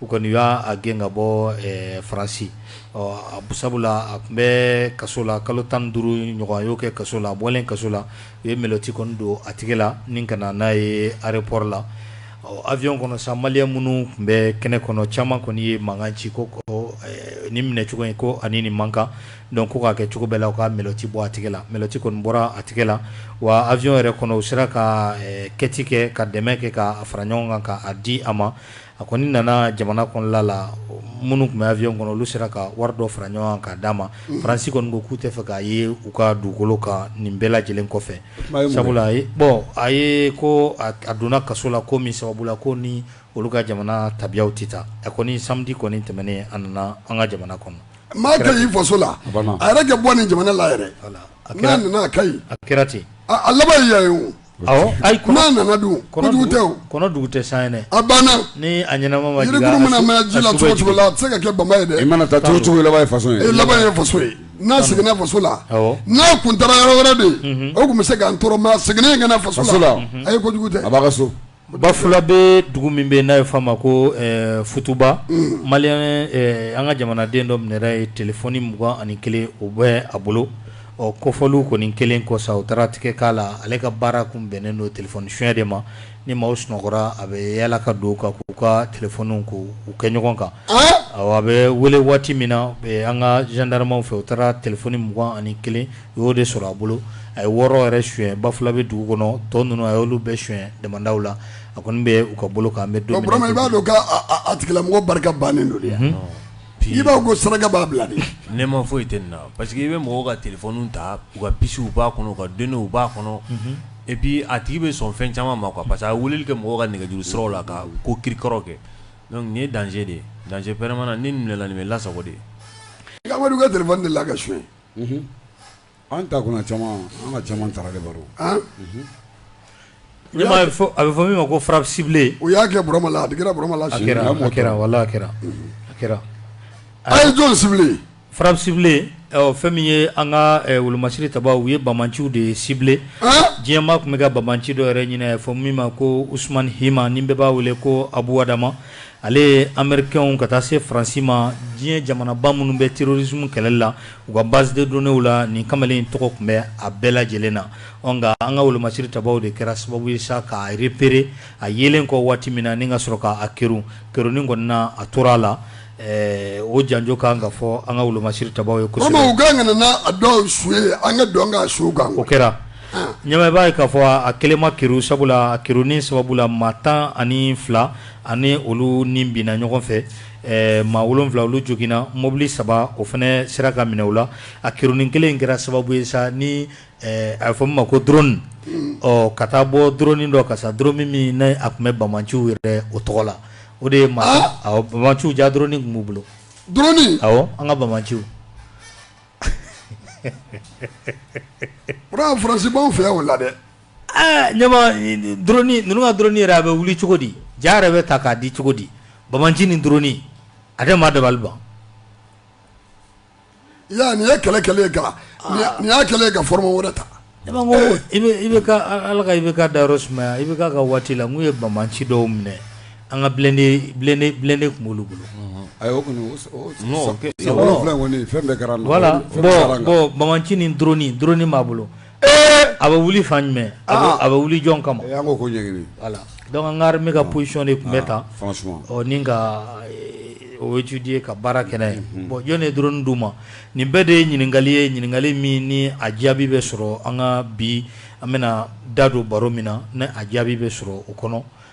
u kɔni y'a gɛn ka bɔ faransi sabula a tun bɛ kaso la kalo tan duuru ɲɔgɔn y'o kɛ kaso la a bɔlen kaso la u ye menɔti kɔni don a tigi la ni ka n'a ye ayeropɔri la awiyɔn kɔnɔ sa maliyɛn minnu tun bɛ kɛnɛ kɔnɔ caman kɔni ye mankan ci ko ni minɛ cogo in ko ani nin man kan dɔn ko k'a kɛ cogo bɛɛ la u ka menɔti bɔ a tigi la menɔti kɔni bɔra a tigi la wa awiyɔn yɛrɛ kɔnɔ u sera ka kɛti kɛ ka dɛmɛ kɛ ka fara ɲɔgɔn kan k'a di a ma A kɔni nana jamana kɔnɔla la minnu tun bɛ awiyɔn kɔnɔ olu sera ka wari dɔ fara ɲɔgɔn kan d'a ma faransi kɔni ko k'u t'a fɛ k'a ye u ka dugukolo kan nin bɛɛ lajɛlen kɔfɛ sabula bɔn a ye ko a donna kaso la ko min sababu la ko ni olu ka jamana tabiyaw tɛ taa a kɔni samedi kɔni tɛmɛnen a nana an ka jamana kɔnɔ maa ka ɲi i faso la a yɛrɛ kɛ bɔ ni jamana la yɛrɛ a kɛra ten a laban nana don kojugu tɛ sa a banna jirikurun mana mɛn ji la cogo o cogo la a tɛ se ka kɛ bama ye dɛ mana taa cogo cogo laban faso ye laban ye faso ye n'a seginna faso la n'a kun taara yɔrɔ wɛrɛ de o tun bɛ se k'an tɔɔrɔ ma segin ka na faso la a ye kojugu tɛ a' ka so Bafulabɛ dugu min bɛ n'a ye fɔ a ma ko futuba mali an ka jamanaden dɔ minɛna yen telefɔni mugan ani kelen o bɛ a bolo ɔ kɔfɔli kɔni kelen kɔ sa u taara tigɛ k'a la ale ka baara tun bɛnnen don telefɔni suɲɛ de ma ni maaw sunɔgɔra a bɛ yaala ka don ka u ka telefɔniw kɛ ɲɔgɔn kan a bɛ wele waati min na an ka zandaramaw fɛ u taara telefɔni mugan ani kelen u y'o de sɔrɔ a bolo a ye wɔɔrɔ yɛrɛ suɲɛ bafulabɛ dugu kɔnɔ tɔn ninnu a y'olu bɛɛ suɲɛ damandaw la a kɔni bɛ u ka bolo kan bɛ don i b'a dɔn a tigilamɔgɔ barika bannen don yan i b'a ko saraka b'a bila ne ma foyi tɛ na parce que i bɛ mɔgɔw ka telefɔni ta u ka pisiw b'a kɔnɔ u ka donew b'a kɔnɔ epi a tigi bɛ sɔn fɛn caman ma kuwa parce que a wuli kɛ mɔgɔw ka nɛgɛjuru sɔrɔ la ka ko kirikɔrɔ kɛ nin ye dan de ye dan vraiment ni minɛla nin bɛ lasa de ye ka de la kaso ye an ta kunna caman an ka caman taara de baro a bɛ fɔ min ma ko farasibilen u y'a kɛurama a kɛra burama kɛra kɛra wala a kɛra a kɛra a ye jɔn farasibilen fɛn min ye an ka wolomasiri tabaw ye bamanciw de sible diɲɛ maa tun bɛ ka bamanci dɔ yɛrɛ ɲini a bɛ fɔ min ma ko Usumani Hima ni bɛɛ b'a wele ko abuda ale ye amerikaw ka taa se faransi ma diɲɛ jamanaba minnu bɛ terorisimu kɛlɛ la u ka base de données la nin kamalen in tɔgɔ tun bɛ a bɛɛ lajɛlen na nka an ka wolomasiri tabaw de kɛra sababu ye sa k'a repere a yelen kɔ waati min na ni ka sɔrɔ k'a ke kɛrɛn kɔni na a tora a la o janjo kan ka fɔ an ka wolomasiri tabaw ye ko a dɔw su ye an ka dɔn ka su kan o kɛra ɲamaba ye k'a fɔ a kelenma ki sababu la kiin sababu la maa tan ni fila ani olu ni binna ɲɔgɔn fɛ eh, maa wolonfila olu joginna mobili saba o fana sera ka minɛ u la a kironin kelen in kɛra sababu ye sa ni eh, a bɛ fɔ min ma ko drone ɔ ka taa bɔ drone dɔ ka sa drone min n'a tun bɛ bamanciw yɛrɛ o tɔgɔ la o de ye maa ah! awɔ bamanciw ja drone tun b'u bolo drone awɔ an ka bamanciw o de y'a fɔrasibaw fɛ o la dɛ Aa maa ninnu ka drone yɛrɛ a bɛ wuli cogo di ja yɛrɛ bɛ ta k'a di cogo di bamanci ni drone a tɛ maa dabali ban nin ye kɛlɛ kɛlɛ ye ga nin y'a kɛlen ka foro wɛrɛ ta i bɛ ala i bɛ ka da yɔrɔ sumaya i bɛ ka waati la n'u ye bamanci dɔw minɛ an ka bilen de tun b'olu bolo fɛn bamanci ni drone b'a bolo A bɛ wuli fan jumɛn a bɛ wuli jɔn kama donc an ka armée ka position de tun bɛ ta nin ka o étudier ka baara kɛ n'a ye bon jɔn de ye drone di u ma nin bɛɛ de ye ɲininkali ye ɲininkali min ni a jaabi bɛ sɔrɔ an ka bi an bɛna da don baro min na ne a jaabi bɛ sɔrɔ o kɔnɔ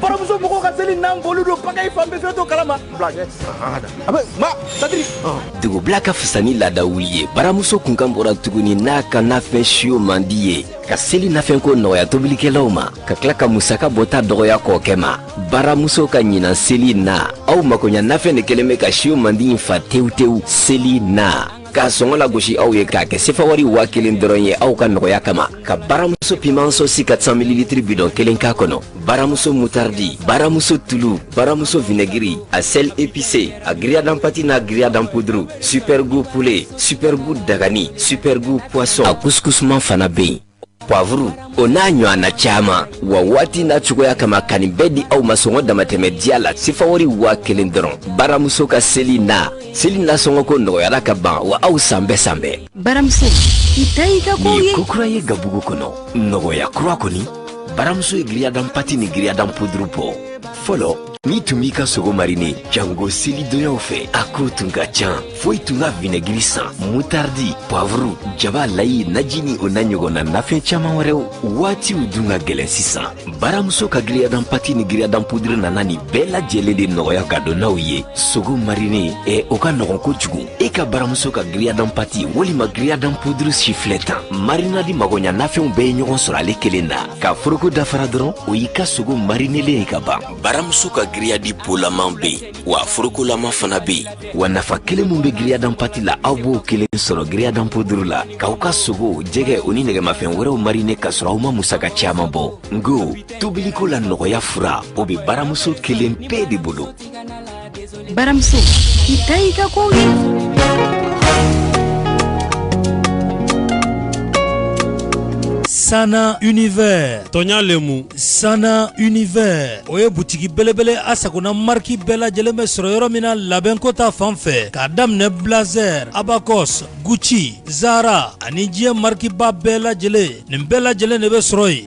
baramuso mɔgɔw ka seli nan boli don pakayi fan bɛɛ fɛn to kalama dugu bila ka fisa ni laada wuli ye baramuso kunkan bɔra tuguni n'a ka nafɛn siyo mandi ye ka seli nafɛnko nɔgɔya tobilikɛlaw ma ka tila ka musaka bɔta dɔgɔya kɔɔkɛ ma baramuso ka ɲinan seli na aw makoɲa nafɛn de kɛlen bɛ ka siyo mandi in fa tewu tewu seli na K'a sɔngɔ lagosi aw ye k'a kɛ sefa wari waa kelen dɔrɔn ye aw ka nɔgɔya kama ka baramuso piman sosi kat san mililitiri bidɔn kelen k'a kɔnɔ baramuso mutaridi baramuso tulu baramuso vinɛgiri a sɛli epise a giriyadi an pati n'a giriyadi an puduru supɛrigu pulɛ supɛrigu dagani supɛrigu pwasɔn a kusukusuman fana bɛ yen pwavuru o n'a ɲɔgɔnna caman wa waati n'a cogoya kama ka nin bɛɛ di aw ma sɔngɔ damatɛmɛ diya la sifawari waa kelen dɔrɔn baramuso ka seli na seli nasɔngɔko nɔgɔyara ka ban wa aw san bɛɛ san bɛɛ baramuso i ta y'i ka kow ye ko kura ye gabugu kɔnɔ nɔgɔya kura kɔni baramuso ye giriyadan pati ni giriyadan puduru bɔ fɔlɔ n'i tun b'i ka sogo marine jango selidonyaw fɛ a ko tun ka can fo i tun ka vinɛgiri san mutardi pwavuru jaba layi naji ni o n'a ɲɔgɔnna nafɛn caaman wɛrɛw waatiw dun ka gwɛlɛn sisan baramuso ka giriyadan pati ni giriyadan pudiri nana nin bɛɛ lajɛlen de nɔgɔya gadonnaw ye sogo marine ɛ o ka nɔgɔn kojugu e ka baramuso ka giriyadan pati walima giriyadan puduru sifilɛ tan marinadi magoɲa nafɛnw bɛɛ ye ɲɔgɔn sɔrɔ ale kelen na ka foroko da fara dɔrɔn o y'i ka sogo marinelen ye ka ban baramuso ka giriyadi polaman be yen wa forokolama fana be yen wa nafa kelen min be giriyadan pati la aw b'o kelen sɔrɔ giriyadan puduru la k'aw ka sogo jɛgɛ o ni nɛgɛmafɛn wɛrɛw marine ka sɔrɔ aw ma musaka caaman bɔ n ko tobiliko la nɔgɔya fura o be baramuso kelen pe de bolo baramuso i ta y'i ka kow ye Sana Univers tɔɲa le mu Sana Univers o ye butigi belebele a sagona marque bɛɛ lajɛlen bɛ sɔrɔ yɔrɔ min na labɛnko ta fan fɛ k'a daminɛ Blazer, Abacus, Gucci, Zara ani diɲɛ marque ba bɛɛ lajɛlen nin bɛɛ lajɛlen de bɛ sɔrɔ yen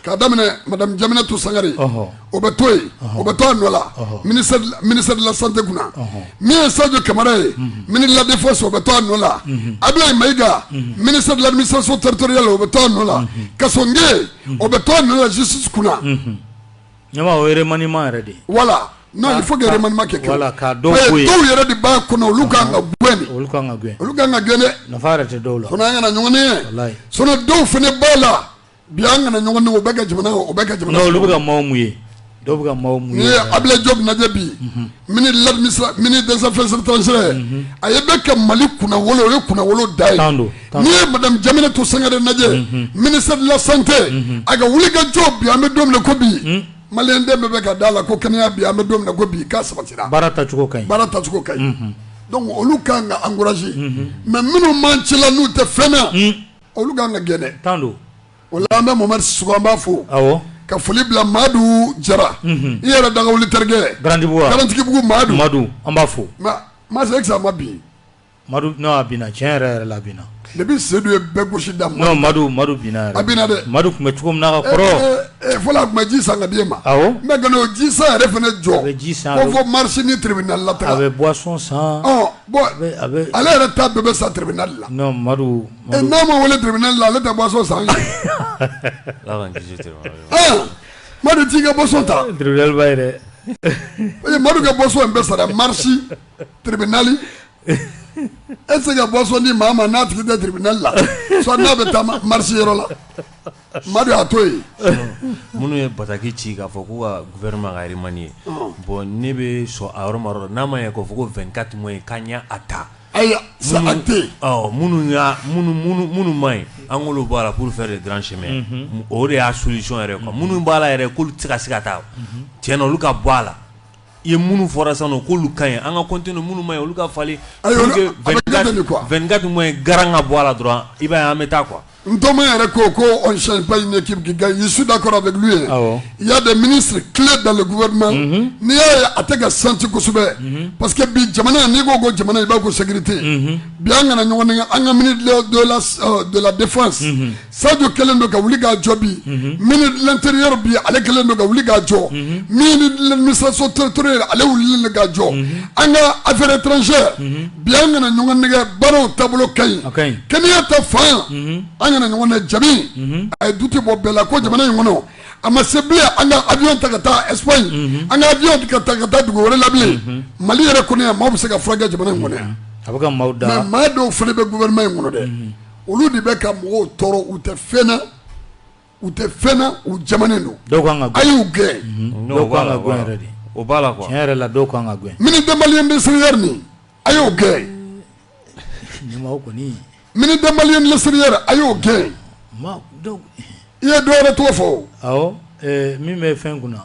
K'a daminɛ madame Diaminatou Sangare, ɔhɔ, o bɛ to yen, ɔhɔ, o bɛ to a nɔ la, ɔhɔ, ministère de la ministère de la santé kunna, ɔhɔ, min ye Sadio Camara ye, unhun, ministre de la defense o bɛ to a nɔ la, unhun, Abulayi Mayiga, unhun, ministre de l'administration territoriale o bɛ to a nɔ la, unhun, Kassogue, unhun, o bɛ to a nɔ la justice kunna, unhun, ne b'a fɔ o ye remaniement yɛrɛ de ye, voilà non il faut que remaniement kɛ, voilà ka dɔ bɔ yen, dɔw yɛrɛ de b'a kɔnɔ olu ka kan ka gɛn de, olu ka kan ka gɛn, olu ka kan ka gɛn dɛ, nafa yɛrɛ tɛ dɔw la, sinon an kana ɲɔgɔn nɛgɛn, walayi, sinon dɔw fana b'a la Bi an kana ɲɔgɔn nɛgɛn o bɛ ka jamana o bɛ ka jamana non olu bɛ ka maillot mouiller dɔw bɛ ka maillot mouiller n'i ye Abulayi Jɔpu lajɛ bi ministre des affaires etrangères ale bɛ ka Mali kunnawolo o ye kunnawolo dan ye n'i ye madame Jaminatu Sangare lajɛ ministre de la santé a ka wuli ka jɔ bi an bɛ don min na i ko bi maliyɛn den bɛɛ bɛ ka d'a la ko kɛnɛya bɛ yen an bɛ don min na i ko bi k'a sabatira baara tacogo ka ɲi baara tacogo ka ɲi donc olu ka kan ka encourager mais minnu b'an cɛla n'u tɛ fɛn na Olu ka kan ka gɛn dɛ, tan don, o la an bɛ Mohamɛdi Sisoko an b'a fo, awɔ, ka foli bila Madu Jara, unhun, i yɛrɛ dagawuli terikɛ, Garantigibugu wa, Garantigibugu Madu, Madu an b'a fo, mais Mase est ce que a ma bin, Madu non a binna tiɲɛ yɛrɛ yɛrɛ la a binna, depuis Sedu ye bɛɛ gosi daminɛ, non Madu Madu binna yɛrɛ, a binna dɛ, Madu tun bɛ cogo min na ka kɔrɔ, e e e fɔlɔ a tun bɛ ji san ka di e ma, awɔ, mais ka n'o ji san yɛrɛ fana jɔ, a bɛ ji san, ko fɔ marche ni tribunal la taga, a bɛ boisson san, ɔ Ale yɛrɛ ta bɛɛ bɛ sa tribunal la n'a ma wele tribunal la ale tɛ boisson san madu t'i ka boisson ta madu ka boisson in bɛ sara marisi tribunal e tɛ se ka boisson di maa ma n'a tigi tɛ tribunal la n'a bɛ taa marisi yɔrɔ la Madu a to yen minnu ye bataki ci k'a fɔ ko ka gouvernement ka remanier bon ne bɛ sɔn a yɔrɔ n'a ma ye' fɔ ko 24 mois ye k'a ɲɛ a ta ayiwa minnu minnu man ɲi an k'olu bɔ a la pour faire des grands changements o de y'a solution yɛrɛ minnu b'a la yɛrɛ' tɛ ka se ka taa ten olu ka bɔ a la i ye minnu fɔra sisan nɔ k'olu ka ɲi an ka continuer minnu man ɲi olu ka falen pour que 24 mois garan ka bɔ a la dɔrɔn i b'a ye an bɛ taa quoi Ntoma yɛrɛ ko ko on ne change pas une équipe qui gagne je suis d'accord avec lui awɔ il y a des ministres clés dans le gouvernement n'i y'a ye a tɛ ka senti kosɛbɛ parce que bi jamana n'i ko ko jamana i b'a ko sécurité bi an kana ɲɔgɔn nɛgɛ an ka ministre de la euh, de la défense Sadio kɛlen don ka wuli k'a jɔ bi ministre de l'intérieur bi ale kɛlen don ka wuli k'a jɔ administration territoriale wulili ka jɔ an ka affaires étrangères bi an kana ɲɔgɔn nɛgɛ baara taabolo ka ɲi kɛnɛya ta fan an kana ɲɔgɔn jaabi a ye doute bɔ bɛɛ la ko jamana in kɔnɔ a ma se an ka avion ta ka taa Espagne an ka avion ka taa ka taa dugu wɛrɛ la mali yɛrɛ kɔnɔ maaw bɛ se ka furakɛ jamana in kɔnɔ a bɛ maa dɔw fana bɛ gouvernement in kɔnɔ dɛ olu de bɛ ka mɔgɔw tɔɔrɔ u tɛ fɛn na u tɛ fɛn na u jamana don a y'u gɛn mhm. o b'a la tiɲɛ yɛrɛ la dɔw kan ka gɛn ministre des Maliens de l'extérieur min a y'o gɛn kɔni ministre des Maliens de l'extérieur a y'o gɛn i ye dɔwɛrɛ tɔgɔ fɔ awɔ min bɛ fɛn kunna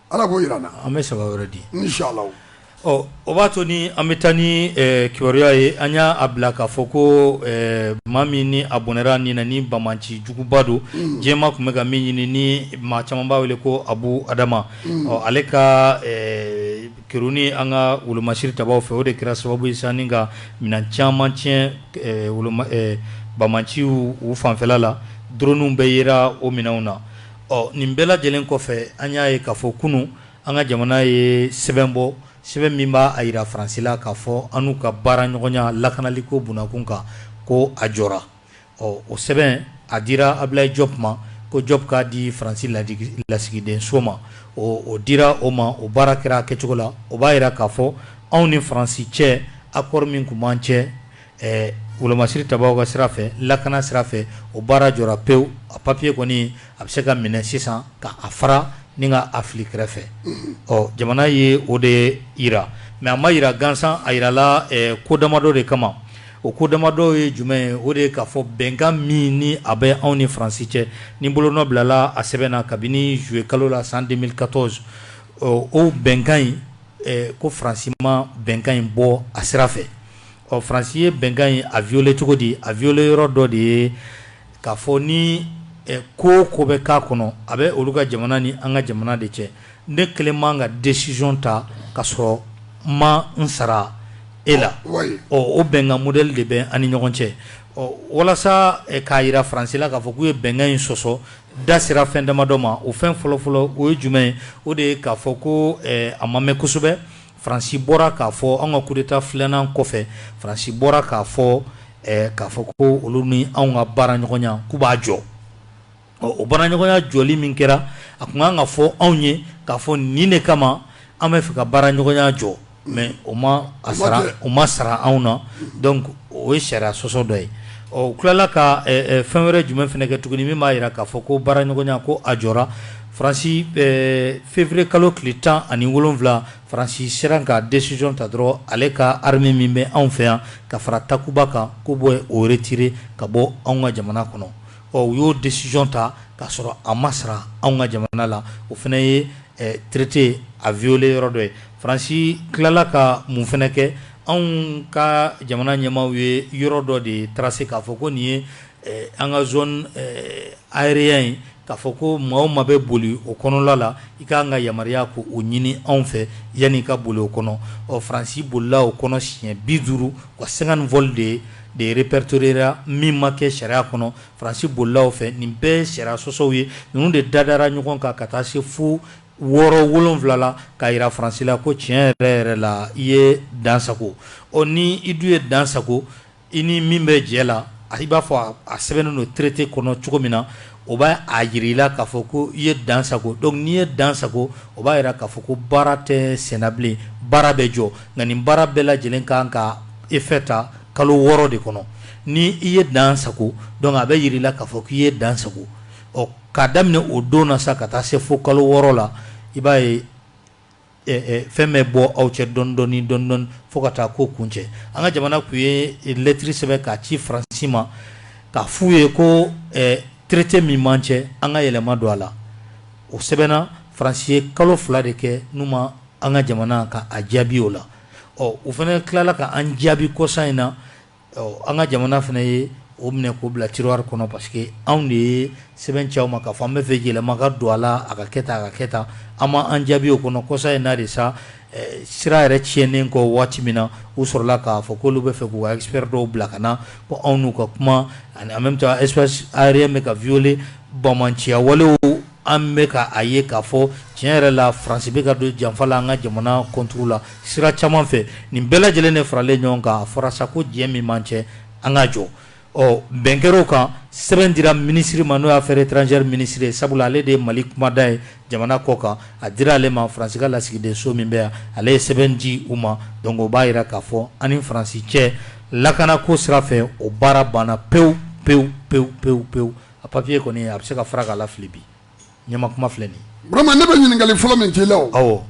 Ala ko jira an bɛ saba wɛrɛ di ni ɔ o b'a to ni an bɛ taa ni kibaruya ye an y'a bila k'a fɔ ko maa min ni a bɔnɛra ni na ni banbaanci juguba don diɲɛ maa tun bɛ ka min ɲini ni maa caman b'a wele ko abu adama ɔ ale ka kɛruni an ka wolomasiri tabaw fɛ o de kɛra sababu ye sanni ka minɛn caman tiɲɛ banbaanciw fanfɛla la doroniw bɛɛ yera o minɛnw na Ɔ nin bɛɛ lajɛlen kɔfɛ an y'a ye k'a fɔ kunun an ka jamana ye sɛbɛn bɔ sɛbɛn min b'a a jira faransila k'a fɔ an n'u ka baara ɲɔgɔnya lakanaliko bunakun kan ko a jɔra ɔ o sɛbɛn a dira abilayi jɔp ma ko jɔp k'a di faransi lasigidenso ma ɔ o dira o ma o baara kɛra a kɛcogo la o b'a jira k'a fɔ anw ni faransi cɛ accord min tun b'an cɛ Ɛɛ wolomasiri ta ka sira fɛ lakana sira fɛ o baara jɔra pewu a papiye kɔni a bɛ se ka minɛ sisan ka a fara ni ka a fili kɛrɛfɛ ɔ jamana ye o de jira mɛ a ma jira gansan a jirala ko damadɔ de kama o ko damadɔ ye jumɛn ye o de ye k'a fɔ bɛnkan min ni a bɛ anw ni faransi cɛ ni bolo nɔ bilala a sɛbɛn na kabini zuye kalo la san deux mille quatorze o bɛnkan in ko faransi ma bɛnkan in bɔ a sira fɛ ɔ faransi ye bɛnkan in a violer cogo di a violer yɔrɔ dɔ de ye k'a fɔ ni ko o ko bɛ k'a kɔnɔ a bɛ olu ka jamana ni an ka jamana de cɛ ne kelen man kan ka décision ta ka sɔrɔ n ma n sara e la ɔ o bɛnkan modɛli de bɛ an ni ɲɔgɔn cɛ ɔ walasa k'a jira faransi la k'a fɔ k'u ye bɛnkan in sɔsɔ da sera fɛn damadɔ ma o fɛn fɔlɔfɔlɔ o ye jumɛn ye o de ye k'a fɔ ko a ma mɛn kosɛbɛ Faransi bɔra k'a fɔ an ka coup d'État filanan kɔfɛ faransi bɔra k'a fɔ k'a fɔ ko olu ni anw ka baara ɲɔgɔnya k'u b'a jɔ ɔ o baara ɲɔgɔnya jɔli min kɛra a tun ka kan ka fɔ anw ye k'a fɔ nin de kama an bɛ fɛ ka baara ɲɔgɔnya jɔ mɛ o ma a sara u ma sara anw na o ye sariya sɔsɔ dɔ ye ɔ tilala ka fɛn wɛrɛ jumɛn fana kɛ tuguni min b'a jira k'a fɔ ko baara ɲɔgɔnya ko a jɔra Fransi février kalo tile 17 Fransi sera ka decision ta dɔrɔn ale ka armée min bɛ anw fɛ yan ka fara Takuba kan k'o bɔ yen o retirer ka bɔ anw ka jamana kɔnɔ, ɔ u y'o decision ta k'a sɔrɔ a ma sara anw ka jamana la, o fana ye traité a violer yɔrɔ dɔ ye, Fransi tilala ka mun fana kɛ anw ka jamana ɲɛmaaw ye yɔrɔ dɔ de tracer k'a fɔ ko nin ye An ka zone aérienne k'a fɔ ko maa o maa bɛ boli o kɔnɔla la i ka kan ka yamaruya ko o ɲini anw fɛ yanni i ka boli o kɔnɔ ɔ faransi bolila o kɔnɔ siɲɛ bi duuru ka cinquante vols de répertoriéra min ma kɛ sariya kɔnɔ faransi bolila anw fɛ nin bɛɛ sariya sɔsɔw ye ninnu de dadara ɲɔgɔn kan ka taa se fo wɔɔrɔ wolon wolonwula la k'a jira faransi la ko tiɲɛ yɛrɛ yɛrɛ la i ye dan sagon ɔ ni i dun ye dan sagon I ni min bɛ jɛ la a i b'a fɔ a sɛbɛnnen don traité kɔnɔ cogo min na o b'a a jira i la k'a fɔ ko i ye dan sagon donc n'i ye dan sagon o b'a jira k'a fɔ ko baara tɛ senna bilen baara bɛ jɔ nka nin baara bɛɛ lajɛlen ka kan ka effet ta kalo wɔɔrɔ de kɔnɔ ni i ye dan sagon dɔrɔn a bɛ jira i la k'a fɔ k'i ye dan sagon ɔ k'a daminɛ o don na sa ka taa se fo kalo wɔɔrɔ la i b'a ye fɛn bɛ bɔ aw cɛ dɔɔnin dɔɔnin dɔɔnin dɔɔnin fo ka taa ko kuncɛ an ka jamana tun ye lɛtiri sɛbɛn k'a ci faransi ma k'a f'u ye ko traité min b'an cɛ an ka yɛlɛma don a la o sɛbɛnna faransi ye kalo fila de kɛ n'u ma an ka jamana ka a jaabi o la ɔ o fana tilala k'an jaabi kɔsa in na an ka jamana fana ye o minɛ k'o bila tiroir kɔnɔ parce que anw de ye sɛbɛn ci u ma k'a fɔ an b'a fɛ yɛlɛma ka don a la a ka kɛ tan a ka kɛ tan an ma an jaabi o kɔnɔ kɔsa in na de sa sira yɛrɛ tiɲɛnen kɔ waati min na u sɔrɔla k'a fɔ k'olu b'a fɛ k'u ka expert dɔw bila ka na ko anw ni u ka kuma en même temps espace aérien bɛ ka violé banbaanciya wale an bɛ ka a ye k'a fɔ tiɲɛ yɛrɛ la faransi bɛ ka don janfa la an ka jamana contre la sira caman fɛ nin bɛɛ lajɛlen de faralen ɲɔgɔn kan a fɔra sa ko jɛ min b'an cɛ an ka jɔ o bɛnkanw kan sɛbɛn dira minisiri ma n'o ye affaires étrangères minisiri ye sabula ale de ye mali kumada ye jamana kɔkan a dira ale ma faransi ka lasigiden so min bɛ yan ale ye sɛbɛn di u ma donc o b'a jira k'a fɔ an ni faransi cɛ lakanako sira fɛ o baara banna pewu pewu pewu pewu pewu A papier kɔni a bɛ se ka fara k'a lafili bi ɲɛma kuma filɛ nin ye. Burama ne bɛ ɲininkali fɔlɔ min k'i la o. Awɔ.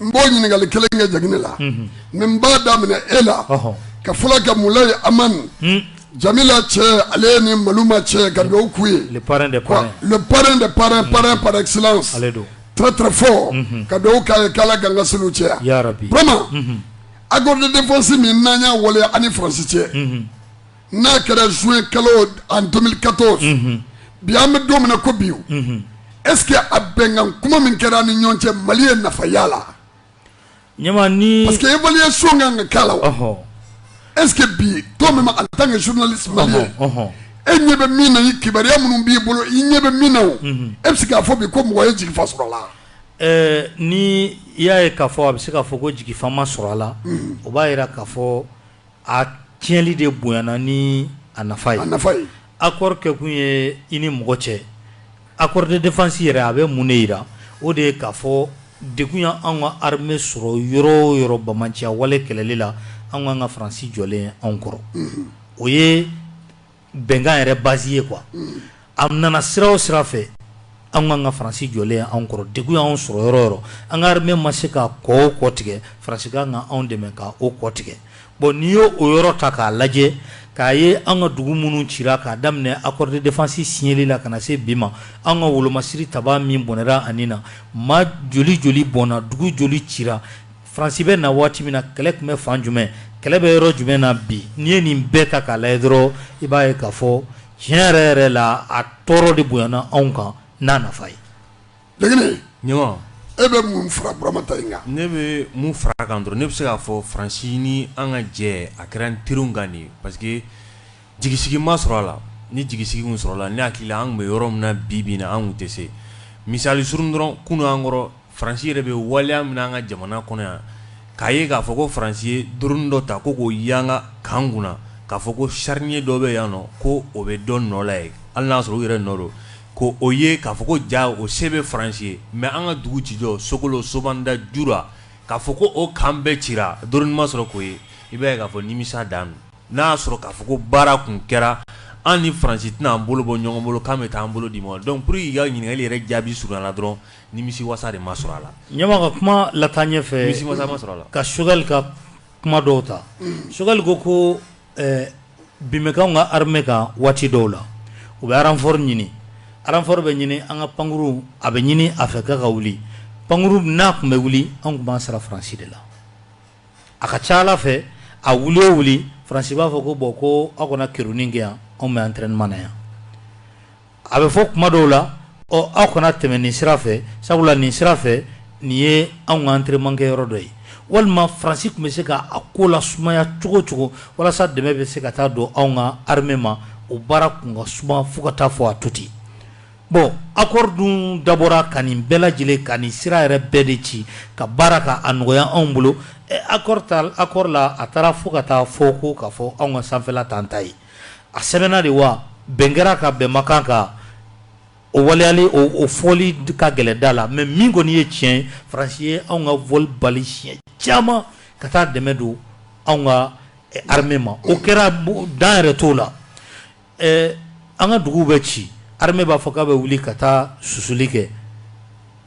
N b'o ɲininkali kelen kɛ Jɛgini la. Unhun. Mais n b'a daminɛ e la. Ɔhɔn. Ka foli kɛ Mulayi Amani. Hun. Jamila cɛ ale ye nin Maluma cɛ ye ka duwawu k'u ye. Le parrain des parrains. Le parrain des parrains parrain par excellence. Ale don. Très très fort. Unhun. Ka duwawu k'a ye k'Ala k'an ka seliw caya. Yarabi. Burama. Unhun. Accord de défense min n'an y'a waleya an ni France cɛ. Unhun. n'a kɛra juin kalo en 2014 unhun bi an bɛ don min na ko bi unhun est ce que a bɛnkan kuma min kɛra an ni ɲɔgɔn cɛ Mali ye nafa y'a la ɲɛma ni parce que évaluation ka kan ka k'a la wa ɔhɔ est ce que bi toi même en tant que journaliste ɔhɔ malien ɔhɔ e ɲɛ bɛ min na ni kibaruya minnu b'i bolo i ɲɛ bɛ min na o e bɛ se k'a fɔ bi ko mɔgɔ ye jigifa sɔrɔ a la ɛɛ ni i y'a ye k'a fɔ a bɛ se k'a fɔ ko jigifa ma sɔrɔ a la o b'a jira k'a fɔ a tiɲɛli de bonyana ni a nafa ye a nafa ye accord kɛ kun ye i ni mɔgɔ cɛ accord de défense yɛrɛ a bɛ mun de jira o de ye k'a fɔ degun ye anw ka armée sɔrɔ yɔrɔ o yɔrɔ banbaanciya wale kɛlɛli la anw ka kan ka Faransi jɔlen ye anw kɔrɔ o ye bɛnkan yɛrɛ base ye quoi unhun, a nana sira o sira fɛ an ka kan ka faransi jɔlen ye anw kɔrɔ degun y'anw sɔrɔ yɔrɔ o yɔrɔ an ka armée ma se ka kɔ o kɔ tigɛ faransi ka kan ka anw dɛmɛ ka o kɔ tigɛ bon n'i ye o yɔrɔ ta k'a lajɛ k'a ye an ka dugu minnu cira k'a daminɛ accord de défense signeli la ka na se bi ma an ka wolomasiri tabaa min bɔnɛra a ni na maa joli joli bɔnna dugu joli cira Faransi bɛ na waati min na kɛlɛ tun bɛ fan jumɛn kɛlɛ bɛ yɔrɔ jumɛn na bi n'i ye nin bɛɛ ta k'a lajɛ dɔrɔn i b'a ye k'a fɔ tiɲɛ yɛrɛ yɛrɛ la a tɔɔrɔ de bonyana anw kan n'a nafa ye ɲuman e bɛ mun fara Burama ta in kan ne bɛ mun fara kan dɔrɔn ne bɛ se k'a fɔ faransi ni an ka jɛ a kɛra n teri kan nin ye pa Jigisigi ma sɔrɔ a la ni jigisigi sɔrɔla ne hakili an bɛ yɔrɔ min na bi bin na an tɛ se misali s dɔrɔn kunun an ɲɛ kɔrɔ faransi yɛrɛ bɛ waleya min an ka jamana kɔnɔ yan k'a ye k'a fɔ ko faransi ye drone dɔ ta ko k'o yangan an kunna k'a fɔ ko charnier dɔ bɛ yan nɔ ko o bɛ dɔn nɔ la ye an y'a sɔrɔ u yɛrɛ nɔ don ko o ye k'a fɔ ko ja o se bɛ faransi ye mɛ an ka dugu ci jɔ sokolo sobanda jura k'a fɔ ko o kan bɛɛ ci drone ma sɔrɔ k'o ye i b'a k'a fɔ nimisa dan N'a y'a sɔrɔ k'a fɔ ko baara tun kɛra an ni Faransi tɛna an bolo bɔ ɲɔgɔn bolo k'an bɛ taa an bolo di ɲɔgɔn ma donc pour que k'i ka ɲininkali yɛrɛ jaabi surunya la dɔrɔn nimisiwasa de ma sɔrɔ a la. Ɲɛma ka kuma lataa ɲɛfɛ, nimisiwasa ma sɔrɔ a la, ka Choguel ka kuma dɔw ta, Choguel ko ko ɛɛ bin bɛ k'anw ka armée kan waati dɔw la, u bɛ renfort ɲini, renfort bɛ ɲini an ka pankuruw a bɛ ɲini a fɛ k'a ka wuli, pankuruw n'a tun bɛ wuli anw tun b'an sara Faransi de la. a ka ca a la fɛ a wuli o wuli faransi b'a fɔ ko bɔn ko aw kana kerunni kɛ yan anw bɛ entraînement na yan a bɛ fɔ kuma dɔw la ɔ aw kana tɛmɛ nin sira fɛ sabula nin sira fɛ nin ye anw ka entraînement kɛyɔrɔ dɔ ye walima faransi tun bɛ se k'a ko lasumaya cogo cogo walasa dɛmɛ bɛ se ka taa don anw ka armée ma o baara tun ka suma fo ka taa fɔ a tuti Bon accord dun dabɔra ka nin bɛɛ lajɛlen ka nin sira yɛrɛ bɛɛ de ci ka baara ka a nɔgɔya anw bolo accord ta accord la a taara fo ka taa fɔ ko ka fɔ anw ka sanfɛla t'an ta ye a sɛbɛnna de wa bɛn kɛra ka bɛn ma kan ka o waleyali o fɔli ka gɛlɛn da la mais min kɔni ye tiɲɛ ye Faransi ye anw ka vol bali siɲɛ caman ka taa dɛmɛ don anw ka armée ma o kɛra dan yɛrɛ t'o la Ɛɛ an ka dugu bɛ ci armée b'a fɔ k'a bɛ wuli ka taa susuli kɛ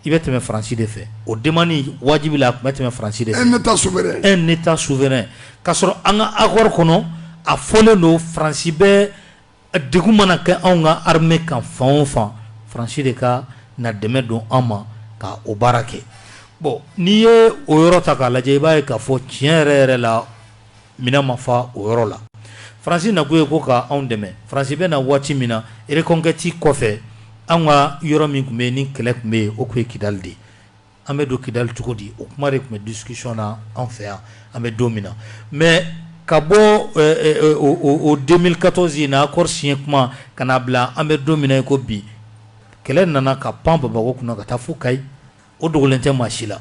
i bɛ tɛmɛ faransi de fɛ o demande in wajibi la tun bɛ tɛmɛ faransi de un état so un état souverain k'a sɔrɔ an ka accord kɔnɔ a fɔlen don faransi bɛ degun mana kɛ anw ka armée kan fan o fan faransi de ka na dɛmɛ don an ma ka o baara kɛ bɔn n'i ye o yɔrɔ ta k'a lajɛ i b'a ye k'a fɔ tiɲɛ yɛrɛ yɛrɛ la Minɛn ma fa o yɔrɔ la. Faransi nakun ye ko ka anw dɛmɛ. Faransi bɛ na waati min na, reconquête kɔfɛ, anw ka yɔrɔ min tun bɛ yen ni kɛlɛ tun bɛ yen, o tun ye Kidali de ye. An bɛ don Kidali cogo di? O kuma de tun bɛ discussion na anw fɛ yan, an bɛ don min na. Mais ka bɔ o 2014 in na, accord signé kuma, ka n'a bila an bɛ don min na i ko bi, kɛlɛ nana ka pan Bamako kunna ka taa fo Kayi. o dogolen tɛ maa si la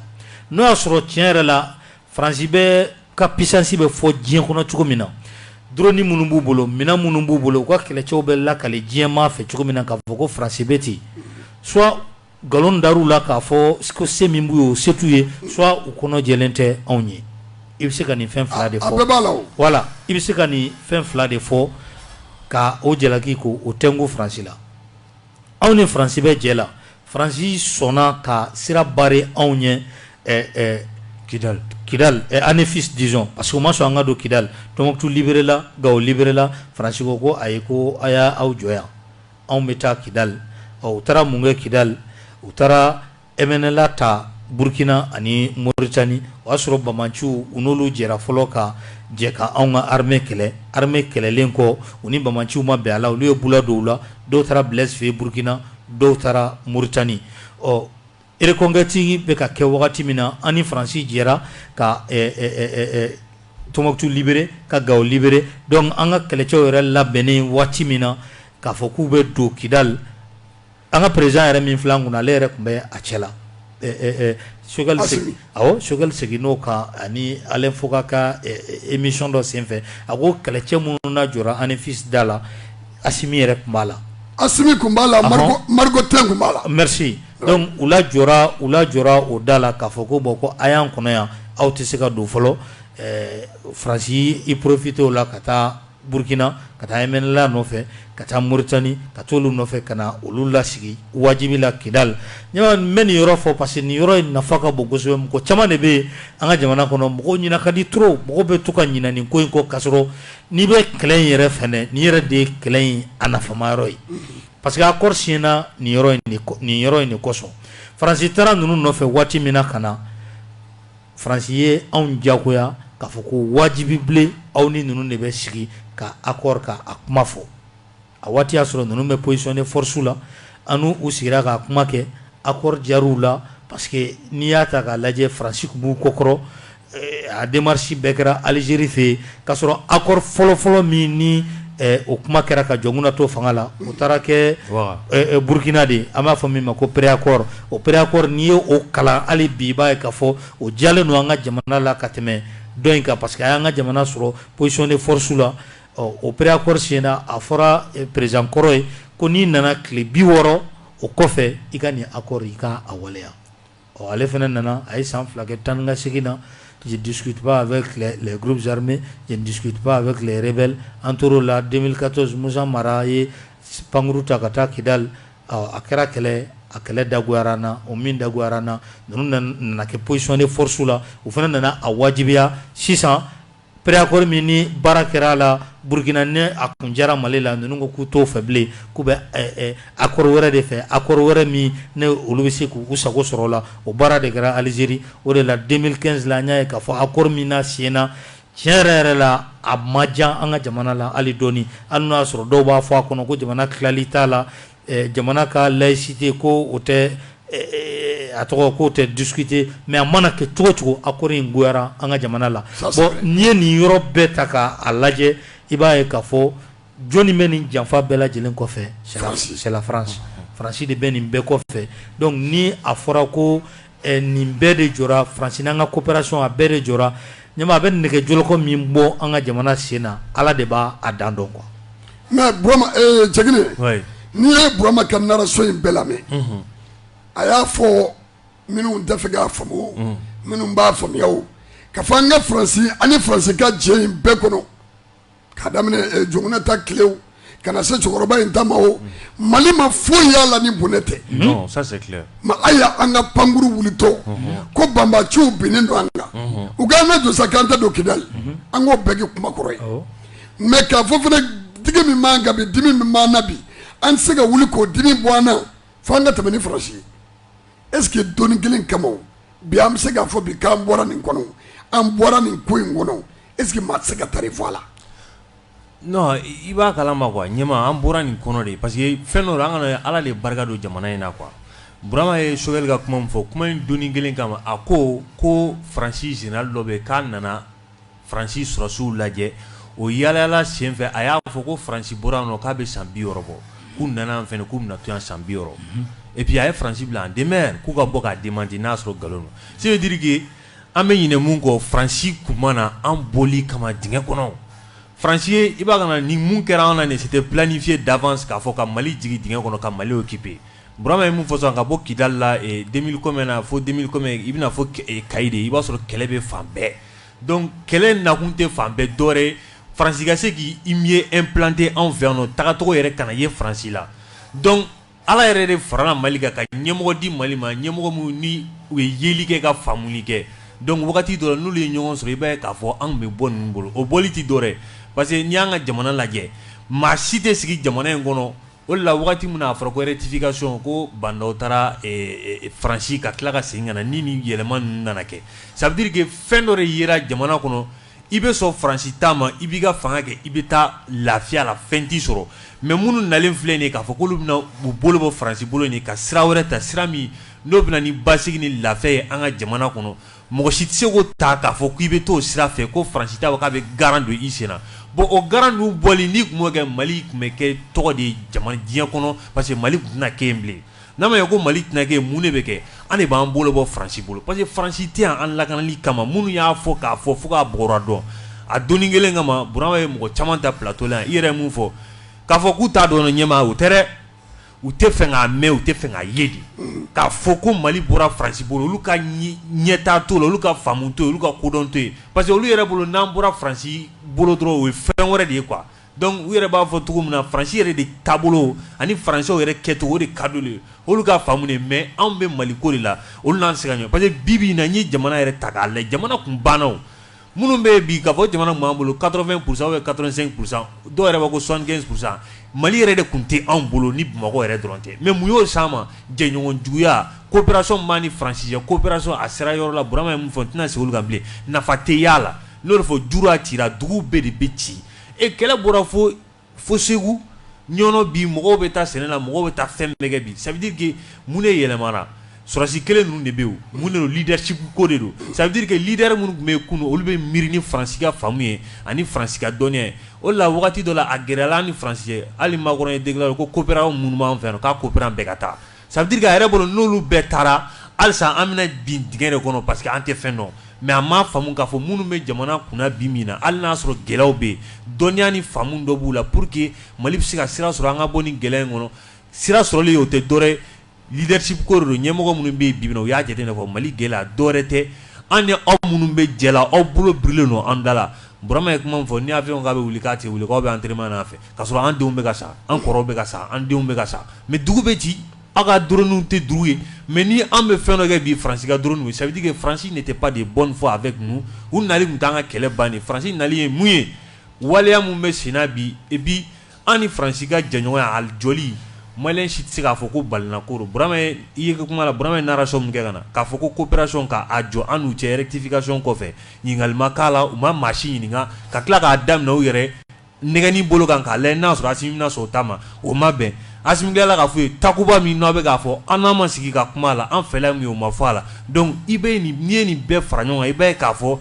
n'o y'a sɔrɔ tiɲɛ yɛrɛ la faransi bɛ ka pisansi bɛ fɔ diɲɛ kɔnɔ cogo min na du minnu b'u bolo minɛn minnu b'u bolo u ka kɛlɛcɛw bɛ lakali diɲɛmaa fɛ cogo min na ka fɔ ko faransi bɛ ten s nkalon da la k'a fɔ ko se min b'u ye o se t'u ye u kɔnɔ lajɛlen tɛ anw ye i bɛ se ka nin fɛn fila de fɔ wala i bɛ se ka nin fɛn fila de fɔ ka o jalaki ko o tɛ ko faransi la anw ni faransi bɛ jɛ la faransi sɔnna ka sira bare anw ye kidali kidali anefisi disons parce que o ma sɔn an ka don kidali tɔmbuktu liberela gawo liberela faransi ko ko ayi ko a y'aw jɔ yan anw bɛ taa kidali u taara mun kɛ kidali u taara MNLA ta burukina ani moritani o y'a sɔrɔ banbaanciw u n'olu jɛra fɔlɔ ka jɛ ka anw ka armée kɛlɛ armée kɛlɛlen kɔ u ni banbaanciw ma bɛn a la olu ye bolo dɔw la dɔw taara bilasife burukina dɔw taara moritani ɔ reconquête bɛ ka kɛ wagati min na an ni faransi jɛra ka tɔmbuktu libere ka gawo libere dɔnku an ka kɛlɛcɛw yɛrɛ labɛnnen waati min na k'a fɔ k'u bɛ don kidali An ka perezidan yɛrɛ min filɛ kun na ale yɛrɛ tun bɛ a cɛ la Choguel seginna o kan ani Alain Foka ka émission dɔ senfɛ a ko kɛlɛcɛ minnu lajɔra anefisi da la Asimi yɛrɛ tun b'a la a tun b'a la tun b'a la u lajɔ u lajɔra o da la k'a fɔ ko bɔn ko a y'an kɔnɔ yan aw tɛ se ka don fɔlɔ faransi i porofitela ka taa Burukina ka taa MNLA nɔfɛ ka taa Moritani ka t'olu nɔfɛ ka na olu lasigi wajibi la Kidali ɲɔgɔn n bɛ nin yɔrɔ fɔ parce que nin yɔrɔ in nafa ka bon kosɛbɛ mɔgɔ caman de bɛ yen an ka jamana kɔnɔ mɔgɔw ɲina ka di trop mɔgɔw bɛ to ka ɲina nin ko in kɔ ka sɔrɔ n'i bɛ kɛlɛ in yɛrɛ fɛ dɛ nin yɛrɛ de ye kɛlɛ in a nafama yɔrɔ ye parce que accord siɲɛna nin yɔrɔ in de nin yɔrɔ in de kosɔn Faransi taara ninnu nɔfɛ waati min na ka na Faransi ye anw diyagoya k'a fɔ ko wajibi bilen aw ni ninnu de bɛ sigi ka akɔri ka a kuma fɔ a waati y'a sɔrɔ ninnu bɛ position de force la ani u sigira k'a kuma kɛ akɔri diyara u la parce que n'i y'a ta k'a lajɛ faransi tun b'u kɔkɔrɔ a demarisi bɛɛ kɛra alizeri fɛ yen K'a sɔrɔ accord fɔlɔfɔlɔ min ni o kuma kɛra ka Jɔnkunda to fanga la, o taara kɛ Burukina de yen, an b'a fɔ min ma ko pré-accord, o pré-accord n'i ye o kalan hali bi, i b'a ye k'a fɔ o diyalen don an ka jamana la ka tɛmɛn dɔ in kan parce que a y'an ka jamana sɔrɔ position de force la, ɔ o pré-accord senna, a fɔra president kɔrɔ ye ko n'i nana tile 60 o kɔfɛ, i ka nin accord i ka a waleya. Ɔ ale fana nana a ye san fila kɛ tan ka segin na dusutuba a gurubisirime dusutuba a bɛ re bɛ an tɔɔrɔ la denkato zun mara ye pankkuru ta ka taa kidali a kɛra kɛlɛ a kɛlɛ dagoyara na o min dagoyara na ninnu nana kɛ psicɔn ni forosi la u fana nana a wajibiya sisan Préaccord min ni baara kɛra a la burukina ni a kun diyara mali la ninnu ko k'u t'o fɛ bilen k'u bɛ accord wɛrɛ de fɛ accord wɛrɛ min ni olu bɛ se k'u sago sɔrɔ la o baara de kɛra alizeri o de la 2015 la an y'a ye k'a fɔ accord min na siɲɛna tiɲɛ yɛrɛ yɛrɛ la a ma diya an ka jamana la hali dɔɔnin hali n'o y'a sɔrɔ dɔw b'a fɔ a kɔnɔ ko jamana tilali t'a la jamana ka laïcité ko o tɛ a tɔgɔ ko o tɛ discuter mais a mana kɛ cogo cogo accord in goyara an ka jamana la bon n'i ye nin yɔrɔ bɛɛ ta k'a lajɛ i b'a ye k'a fɔ jɔni bɛ nin janfa bɛɛ lajɛlen kɔfɛ c'est la France Faransi de bɛ nin bɛɛ kɔfɛ donc ni a fɔra ko Nin bɛɛ de jɔra Faransi ni an ka coopération a bɛɛ de jɔra ɲa a bɛ nɛgɛjɔlɔkɔ min bɔ an ka jamana sen na ala de b'a a dan dɔn quoi mais jeli n'i ye Burama ka narration in bɛɛ lamɛn a y'a fɔ minnu t'a fɛ k'a faamu minnu b'a faamuya k'a fɔ an ka Faransi an ni Faransi ka jɛ in bɛɛ kɔnɔ ka daminɛ eh, Jɔnkunda ta kile ka na se cɛkɔrɔba in ta ma o mali ma foyi y'a la ni bɔnɛ tɛ Non, ça c'est clair. ma a y'a an ka pankurun wulitɔ ko banbaganciw binnen don an kan u k'an ka jɔ sa k'an tɛ don kidali an k'o bɛɛ kɛ kuma kɔrɔ ye mais k'a fɔ fana digi min b'an kan bi dimi min b'an na bi an tɛ se ka wuli k'o dimi bɔ an na fo an ka tɛmɛ ni Faransi ye est ce que don kelen kama o, bi an bɛ se k'a fɔ bi k'an bɔra nin kɔnɔ an bɔra nin ko in kɔnɔ Est-ce que maa tɛ se ka taa i fɔ a la i b'a kala ma quoi ɲɛma an bɔra nin kɔnɔ de parce que fɛn dɔ an ka ala de barika don jamana in na qu burama ye Choguel ka kuma min fɔ kuma in don kelen kama a ko ko faransi général dɔ bɛ k'a nana faransi sɔrɔdasiw lajɛ o yaala senfɛ a y'a fɔ ko faransi bɔra nɔ k'a bɛ san bi bɔ k'u nana fana k'u na to san bi et puis a ye faransi bila a denmisɛn k'u ka bɔ k'a di man di n'a sɔrɔ nkalon ça veut dire que An bɛ ɲinɛ mun kɔ Faransi tun mana an boli kama dingɛ kɔnɔ, Faransi ye i b'a ka na ni mun kɛra an na nin ye c'était planifié d'avance k'a fɔ ka Mali jigin dingɛ kɔnɔ ka Mali occuper Burama ye mun fɔ sisan ka bɔ Kidali la 2000 combien na fo 2000 combien i bɛna fɔ Kayi de i b'a sɔrɔ kɛlɛ bɛ fan bɛɛ donc kɛlɛ in nakun tɛ fan bɛɛ dɔwɛrɛ ye Faransi ka se k'i mieux implanter anw fɛ yan nɔ tagacogo yɛrɛ kana ye Faransi la donc Ala yɛrɛ de farala Mali kan ka ɲɛmɔgɔ di Mali ma ɲɛmɔgɔ minnu ni u ye yeli kɛ ka faamuli kɛ donc wagati dɔ la n'olu ye ɲɔgɔn sɔrɔ i b'a ye k'a fɔ an tun bɛ bɔ ninnu bolo o bɔli tɛ dɔ wɛrɛ parce que n'i y'an ka jamana lajɛ maa si tɛ sigi jamana in kɔnɔ o de la wagati min na a fɔra ko rectification ko Ba Ndaw taara Faransi ka tila ka segin ka na ni nin yɛlɛma ninnu nana kɛ ça veut dire que fɛn dɔ de yera jamana kɔnɔ I bɛ sɔn Faransi ta ma, i b'i ka fanga kɛ, i bɛ taa lafiya la fɛn t'i sɔrɔ mais minnu nalen filɛ nin ye k'a fɔ k'olu bɛna u bolo bɔ Faransi bolo in ka sira wɛrɛ ta, sira min n'o bɛna ni basigi ni lafiya ye an ka jamana kɔnɔ, mɔgɔ si tɛ se k'o ta k'a fɔ k'i bɛ t'o sira fɛ ko Faransi t'a fɔ k'a bɛ garan don i sen na bon o garan ninnu bɔli n'i tun b'o kɛ Mali tun bɛ kɛ tɔgɔ de ye jama diɲɛ kɔnɔ parce que Mali tun tɛna kɛ yen bilen. N'a ma ɲɛ ko Mali tɛna kɛ yen, mun de bɛ kɛ? An de b'an bolo bɔ Faransi bolo parce que Faransi tɛ yan an lakanali kama minnu y'a fɔ k'a fɔ fo k'a bɔgɔra dɔn, a donni kelen kama Burama ye mɔgɔ caman ta plateau la yan, i yɛrɛ ye mun fɔ, k'a fɔ k'u t'a dɔn ɲɛmaa o tɛ dɛ, u tɛ fɛ k'a mɛn, u tɛ fɛ k'a ye de, unhun, k'a fɔ ko Mali bɔra Faransi bolo olu ka ɲɛtaa t'o la, olu ka faamu t'o ye, olu ka kodɔn t'o ye parce que olu yɛrɛ bolo n'an bɔra Faransi bolo dɔrɔn o ye fɛn wɛrɛ de ye quoi Donc u yɛrɛ b'a fɔ cogo min na faransi yɛrɛ de taabolo ani faransew yɛrɛ kɛcogo de ka di u ye olu ka faamu mais anw bɛ mali ko de la olu n'an sɛgɛn ɲɔgɔn parce que bi bi n'an ye jamana yɛrɛ ta k'a la jamana tun bannaw minnu bɛ bi ka fɔ jamana b'an bolo quatre-vingts pour cent ye quatre-vingts pour cent dɔw yɛrɛ bɛ ko cinquante pour cent mali yɛrɛ de tun tɛ anw bolo ni bamakɔ yɛrɛ dɔrɔn tɛ mais mun y'o se an ma jɛɲɔgɔn juguyaya coopération ma an ni faransi coopération a sera yɔrɔ la Bura ye min fɔ tɛna se ka bilen nafa t'a la n'o de fɔ dugu ci dugu bɛɛ de bɛ ci E kɛlɛ bɔra fo fo Segu Ɲɔnɔ bi mɔgɔw bɛ taa sɛnɛla mɔgɔw bɛ taa fɛn bɛɛ bi ça veut dire que mun de yɛlɛmana sɔrɔdasi kelen ninnu de bɛ yen mun de don leadership ko de don ça veut dire que leader minnu tun bɛ yen kunun olu bɛ miiri ni faransi ka faamu ye ani faransi ka dɔnniya ye o la waati dɔ la a gɛlɛyara an ni faransi cɛ hali Macron y'a déclaré ko coopérantw minnu b'an fɛ k'a coopérant bɛɛ ka taa ça veut dire a yɛrɛ bolo n'olu bɛɛ taara halisa an bɛna bin dingɛ de kɔnɔ parce que an tɛ fɛn dɔn mais a ma faamu k'a fɔ minnu bɛ jamana kun bin min na hali y'a sɔrɔ gɛlɛyaw bɛ yen dɔnniya ni faamumu dɔ b'u la pour que mali bɛ se ka sira sɔrɔ an ka bɔ ni gɛlɛya in kɔnɔ sira sɔrɔlen o tɛ dɔwɛrɛ leadership ko don ɲɛmɔgɔ minnu bɛ bi u y'a jate de k'a fɔ mali gɛlɛya dɔwɛrɛ tɛ an ni aw minnu bɛ jɛ aw bolo bilen don an da la Bura ye kuma fɔ n y'a fɔ k'a bɛ wuli k'a cɛ wuli k'aw bɛ an terimana fɛ ka sɔrɔ an denw bɛ ka sa an kɔrɔw bɛ ka sa an denw bɛ ka sa mais dugu bɛ ci aw ka drones tɛ dugu ye mais ni an bɛ fɛn dɔ kɛ bi France ka drones ye ça veut dire que France n'était pas de bonne foi avec nous u nali tun t'an ka kɛlɛ ban ye France nali ye mun ye waleya min bɛ senna bi et puis an ni France ka jɛɲɔgɔnya a jɔli maliyɛn si tɛ se k'a fɔ ko balina ko don Burama ye i ye kuma la Burama ye narration min kɛ ka na k'a fɔ ko coopération ka a jɔ an n'u cɛ rectification kɔfɛ ɲininkali ma k'a la u ma maa si ɲininka ka tila k'a daminɛ u yɛrɛ nɛgɛni bolo kan k'a lajɛ n'a sɔrɔ Asimi bɛna sɔn o ta ma, o ma bɛn, Asimi tilala k'a f'u ye Takuba min n'aw bɛ k'a fɔ an n'aw ma sigi ka kuma a la, an fɛla ye mun ye o ma fɔ a la, donc i bɛ nin n'i ye nin bɛɛ fara ɲɔgɔn kan i b'a ye k'a fɔ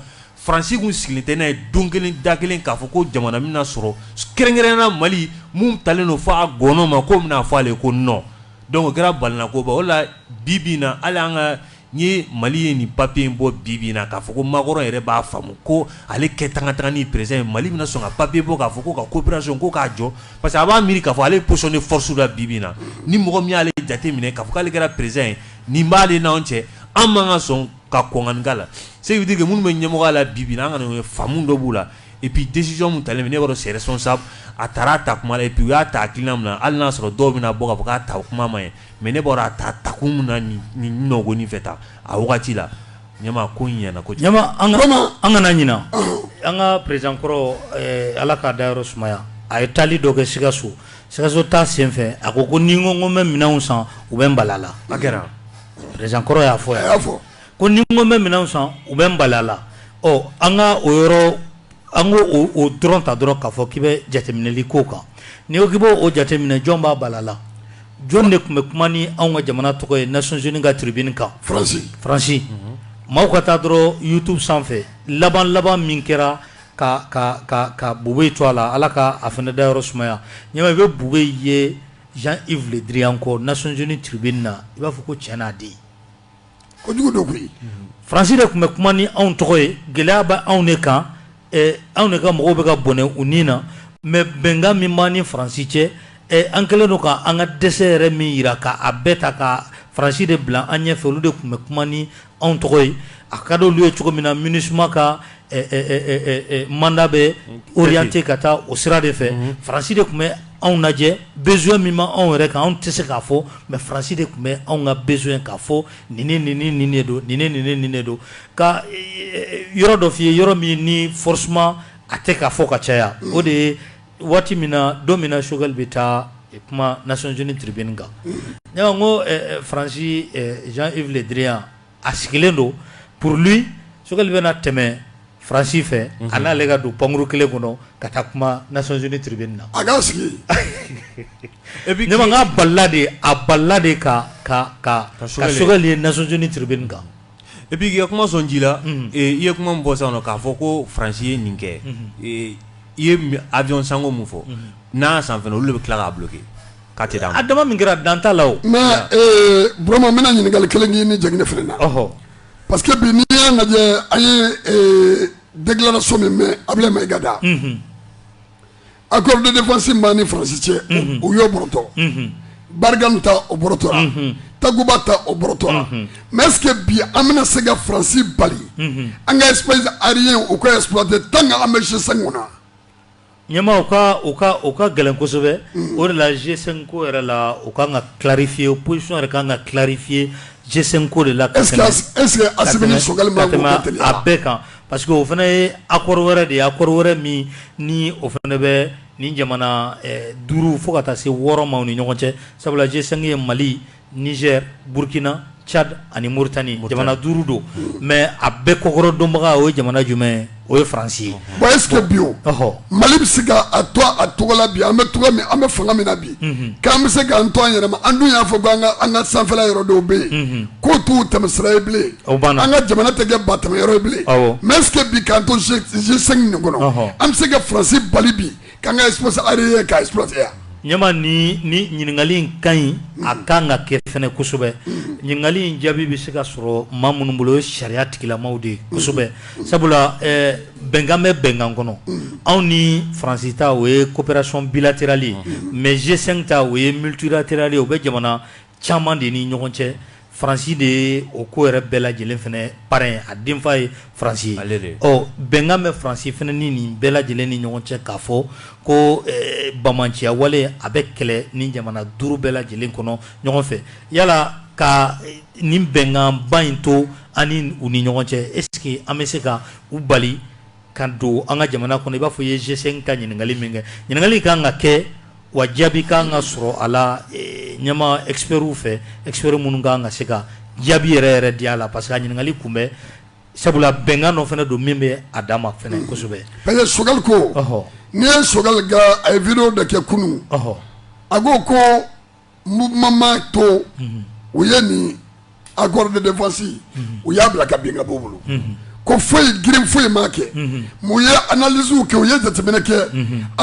Faransi tun sigilen tɛ n'a ye don kelen da kelen k'a fɔ ko jamana bɛna sɔrɔ kɛrɛnkɛrɛnnenya la Mali min talen don f'a gɔɔnɔ ma k'o bɛna fɔ ale ye ko non, donc o kɛra balinakoba ye, o de la bi bi in na hali an ka N'i ye Mali ye nin papiye in bɔ bibi na k'a fɔ ko Macron yɛrɛ b'a faamu ko ale kɛ tan ka taa ni peresidan ye Mali bɛna sɔn ka papiye bɔ k'a fɔ ko ka kooperasɔn ko k'a jɔ parce que a b'a miiri k'a fɔ ale position de force la bibi na ni mɔgɔ min y'ale jate minɛ k'a k'ale kɛra peresidan ye nin b'aale n' cɛ an b'an ka sɔn ka kɔnkanka la segudike minnu bɛ ɲɛmɔgɔ la bibi an kana ye faamumu dɔ b'u la ipi desizɔn min talen ne yɔrɔ sɛɛrɛ sɔsan a taara ta kuma la ipi u y'a ta ki min na hali y'a sɔrɔ dɔw bɛna bɔ ka bɔ k'a ta o kuma ma ye Mɛ ne bɔra a ta takun min na nɔgɔɔgɔnin fɛ ta a wagati la ɲama ko ɲana ko ɲama an kana ɲinɛ an ka peresidan kɔrɔ Ala k'a dayɔrɔ sumaya a ye taali dɔ kɛ Sikaso Sikaso taa senfɛ a ko ko ni ko ko bɛ minɛnanw san u bɛ balala a kɛra peresidan kɔrɔ y'a fɔ a y'a fɔ ko ni ko bɛ minɛn san u bɛ balala ɔ an ka o yɔrɔ An k'o dɔrɔn ta dɔrɔn k'a fɔ k'i bɛ jateminɛli k'o kan ni ko k'i b'o o jateminɛ jɔn b'a bala la jɔn de tun bɛ kuma ni anw ka jamana tɔgɔ ye Nations Unies ka tribune kan Faransi, Faransi, maaw ka taa dɔrɔn YouTube sanfɛ laban laban min kɛra ka ka ka ka Boubèye to a la Ala ka a fana dayɔrɔ sumaya n ɲɛ b'a i bɛ Boubèye ye Jean Yves Le Drian kɔ Nations Unies tribune na i b'a fɔ ko cɛ n'a den ko jugu don koyi faransi de tun bɛ kuma ni anw tɔgɔ ye gɛlɛya bɛ anw de kan anw de ka mɔgɔw bɛ ka bɔnɛ u ni na mɛ bɛnkan min b'an ni faransi cɛ an kɛlen don ka an ka dɛsɛ yɛrɛ min jira ka a bɛɛ ta ka faransi de bila an ɲɛfɛ olu de tun bɛ kuma ni anw tɔgɔ ye a ka di olu ye cogo min na minusima ka manda bɛ wote ka taa o sira de fɛ faransi de tun bɛ anw lajɛ besoin min b'anw yɛrɛ kan anw tɛ se k'a fɔ mɛ faransi de tun bɛ anw ka besoin k'a fɔ ni ni ni ni de don ni ni ni ni de don ka yɔrɔ dɔ f'i ye yɔrɔ min ni forcément a tɛ k'a fɔ ka caya o de ye waati min na don min na Sogɛli bɛ taa kuma Nations Unies tribune kan ne ko faransi Jean Yves Le Drian a sigilen don pour lui Sogɛli bɛna tɛmɛ France fɛ a n'ale ka don pankuru kelen kɔnɔ ka taa kuma Nations Unies tribune na, a k'a sigi yen, ne ko k'a bala a la dɛ, a bala a la dɛ ka ka Sogɛli ye Nations Unies tribune kan et puis k'i ka kuma sɔn ji la, unhun, i ye kuma min fɔ sisan k'a fɔ ko France ye nin kɛ, unhun, i ye avion sanko min fɔ, unhun, n'an y'a san fana olu de bɛ tila k'a bloquer K'a tɛ d'a ma. A dama min kɛra dan t'a la o. Mais ee Burama n bɛna ɲininkali kelen k'i ni Jɛkinɛ fana na. Ɔhɔ! Parce que bi n'i y'a lajɛ an ye ee déclaration min mɛn Abilaye Mayiga da. Unhun! Accord de défense min b'an ni France cɛ. Unhun! U y'o bɔrɔtɔ. Unhun! Barkhane ta o bɔrɔtɔ la. Unhun! Takuba ta o bɔrɔtɔ la. Unhun! Mais est ce que bi an bɛna se ka France bali. Unhun! An ka espace aérien u k'o exploiter tant que an bɛ G5 kɔnɔ? ɲɛma o ka o ka o ka gɛlɛn kosɛbɛ o de la G5 ko yɛrɛ la o ka kan ka clarifier o position yɛrɛ ka kan ka clarifier G5 ko de la ka ese a bɛɛ kan parce que o fana ye accord wɛrɛ de ye accord wɛrɛ min ni o fana bɛ nin jamana duuru fo ka taa se wɔɔrɔ ma u ni ɲɔgɔn cɛ sabula G5 ye mali Nizɛr, Burukina, Cadi ani Moritani, jamana 5 don mais a bɛɛ kɔkɔrɔ donbaga o ye jamana jumɛn ye? O ye France ye, bon est ce que bi o, ɔhɔ, Mali bɛ se ka a to a tɔgɔ la bi an bɛ tɔgɔ min an bɛ fanga min na bi, unhun, k'an bɛ se k'an to an yɛrɛ ma an dun y'a fɔ ko an ka sanfɛla yɔrɔ dɔw bɛ yen, unhun, k'o t'u tɛmɛsira ye bilen, o banna, an ka jamana tɛ kɛ batɛmɛyɔrɔ ye bilen, awɔ, mais est ce que bi k'an to G5 nin kɔnɔ, ɔhɔ, an bɛ se ka France bali bi K'an ka espace ye ka espace aérien ɲɛma nin nin ɲininkali in ka ɲi a ka kan ka kɛ fana kosɛbɛ ɲininkali in jaabi bɛ se ka sɔrɔ maa minnu bolo o ye sariya tigilamaw de ye kosɛbɛ sabula bɛnkan bɛ bɛnkan kɔnɔ anw ni faransi ta o ye coopération bilatérale ye mais G5 ta o ye multilatéral ye o bɛ jamana Caman de ni ɲɔgɔn cɛ faransi de ye o ko yɛrɛ bɛɛ lajɛlen fana parrain ye a denfa ye faransi ye ɔ bɛnkan bɛ faransi fana ni nin bɛɛ lajɛlen ni ɲɔgɔn cɛ k'a fɔ ko banbaanciya wale a bɛ kɛlɛ nin jamana duuru bɛɛ lajɛlen kɔnɔ ɲɔgɔn fɛ yala ka nin bɛnkan ba in to an ni u ni ɲɔgɔn cɛ est ce que an bɛ se ka u bali ka don an ka jamana kɔnɔ i b'a fɔ i ye G5 ta ɲininkali min kɛ, ɲininkali ka kan ka kɛ wa jaabi ka kan ka sɔrɔ a la ɲɛma experts fɛ experts minnu ka kan ka se ka jaabi yɛrɛ yɛrɛ di a la parce que a ɲininkali kun bɛ sabula bɛnkan dɔ fana don min bɛ a dan ma fana kosɛbɛ. Parce que Sogɛli ko, ɔhɔ, n'i ye Sogɛli ka a ye video dɔ kɛ kunun, ɔhɔ, a ko ko to u ye nin accord de défense u y'a bila ka bin ka bɔ u bolo ko foyi girin foyi ma kɛ u ye analyse kɛ u ye jateminɛ kɛ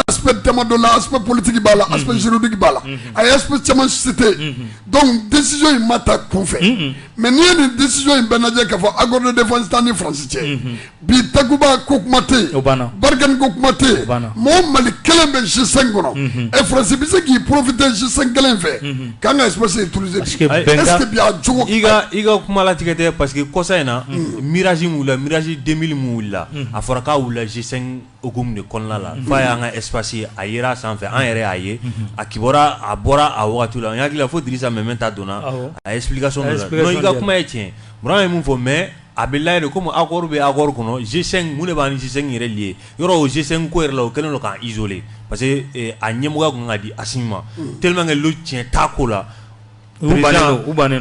aspect dama dɔ la aspect politique b'a la aspect juridique b'a la a ye aspect caman citer donc décision in ma ta kun fɛ mais n'i ye nin décision in bɛɛ lajɛ k'a fɔ accord de défense t'an ni France cɛ bi takuba ko kuma tɛ yen barikani ko kuma tɛ yen mɔgɔ mali kelen bɛ G5 kɔnɔ mhm. ɛ faransi bɛ se k'i profiter G5 kelen fɛ mhm. k'an ka espace utiliser bi est ce que bi a jogo i ka i ka kuma latigɛ tɛ parce que kɔsa in na mhm. mirage min wulila mirage 2000 min wulila a fɔra k'a wulila G5 hukumu de kɔnɔna la f'a y'an ka espace ye a yera a sanfɛ an yɛrɛ y'a ye a kibɔra a bɔra a wagati la n hakili la fo Dirisa Meminta donna a explication dɔ la non i ka kuma ye tiɲɛ Burama ye mun fɔ mais A bɛ layira komi accord bɛ accord kɔnɔ G5 mun de b'an ni G5 yɛrɛ lier yɔrɔ o G5 ko yɛrɛ la o kɛlen don k'an isoler parce que a ɲɛmɔgɔya tun ka di Asimi ma teliman tiɲɛ ta ko la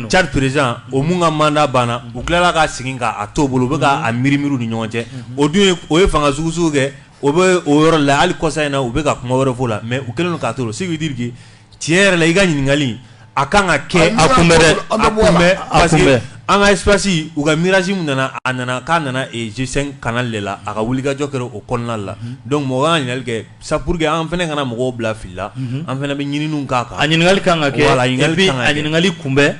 Tchad président o min ka manda banna u tilala ka segin k'a to a bolo u bɛ a minimini ɲɔgɔn cɛ o dun o ye fanga sugusugu kɛ o bɛ o yɔrɔ la hali kɔsa in na u bɛ ka kuma wɛrɛ fɔ la mɛ u kɛlen k'a to segu dike tiɲɛ yɛrɛ la i ka ɲininkali a kan ka kɛ a kun bɛ dɛ a kun bɛ a kun bɛ an ka espasi u ka mirage min nana a nana k'a nana G5 kana de la a ka wulikajɔ kɛra o kɔnɔna la dɔnku mɔgɔ ka ɲininkali kɛ sa pour que an fana kana mɔgɔw bila fili la an fana bɛ ɲinin k'a kan a ɲininkali kan ka kɛ a ɲininkali kun bɛ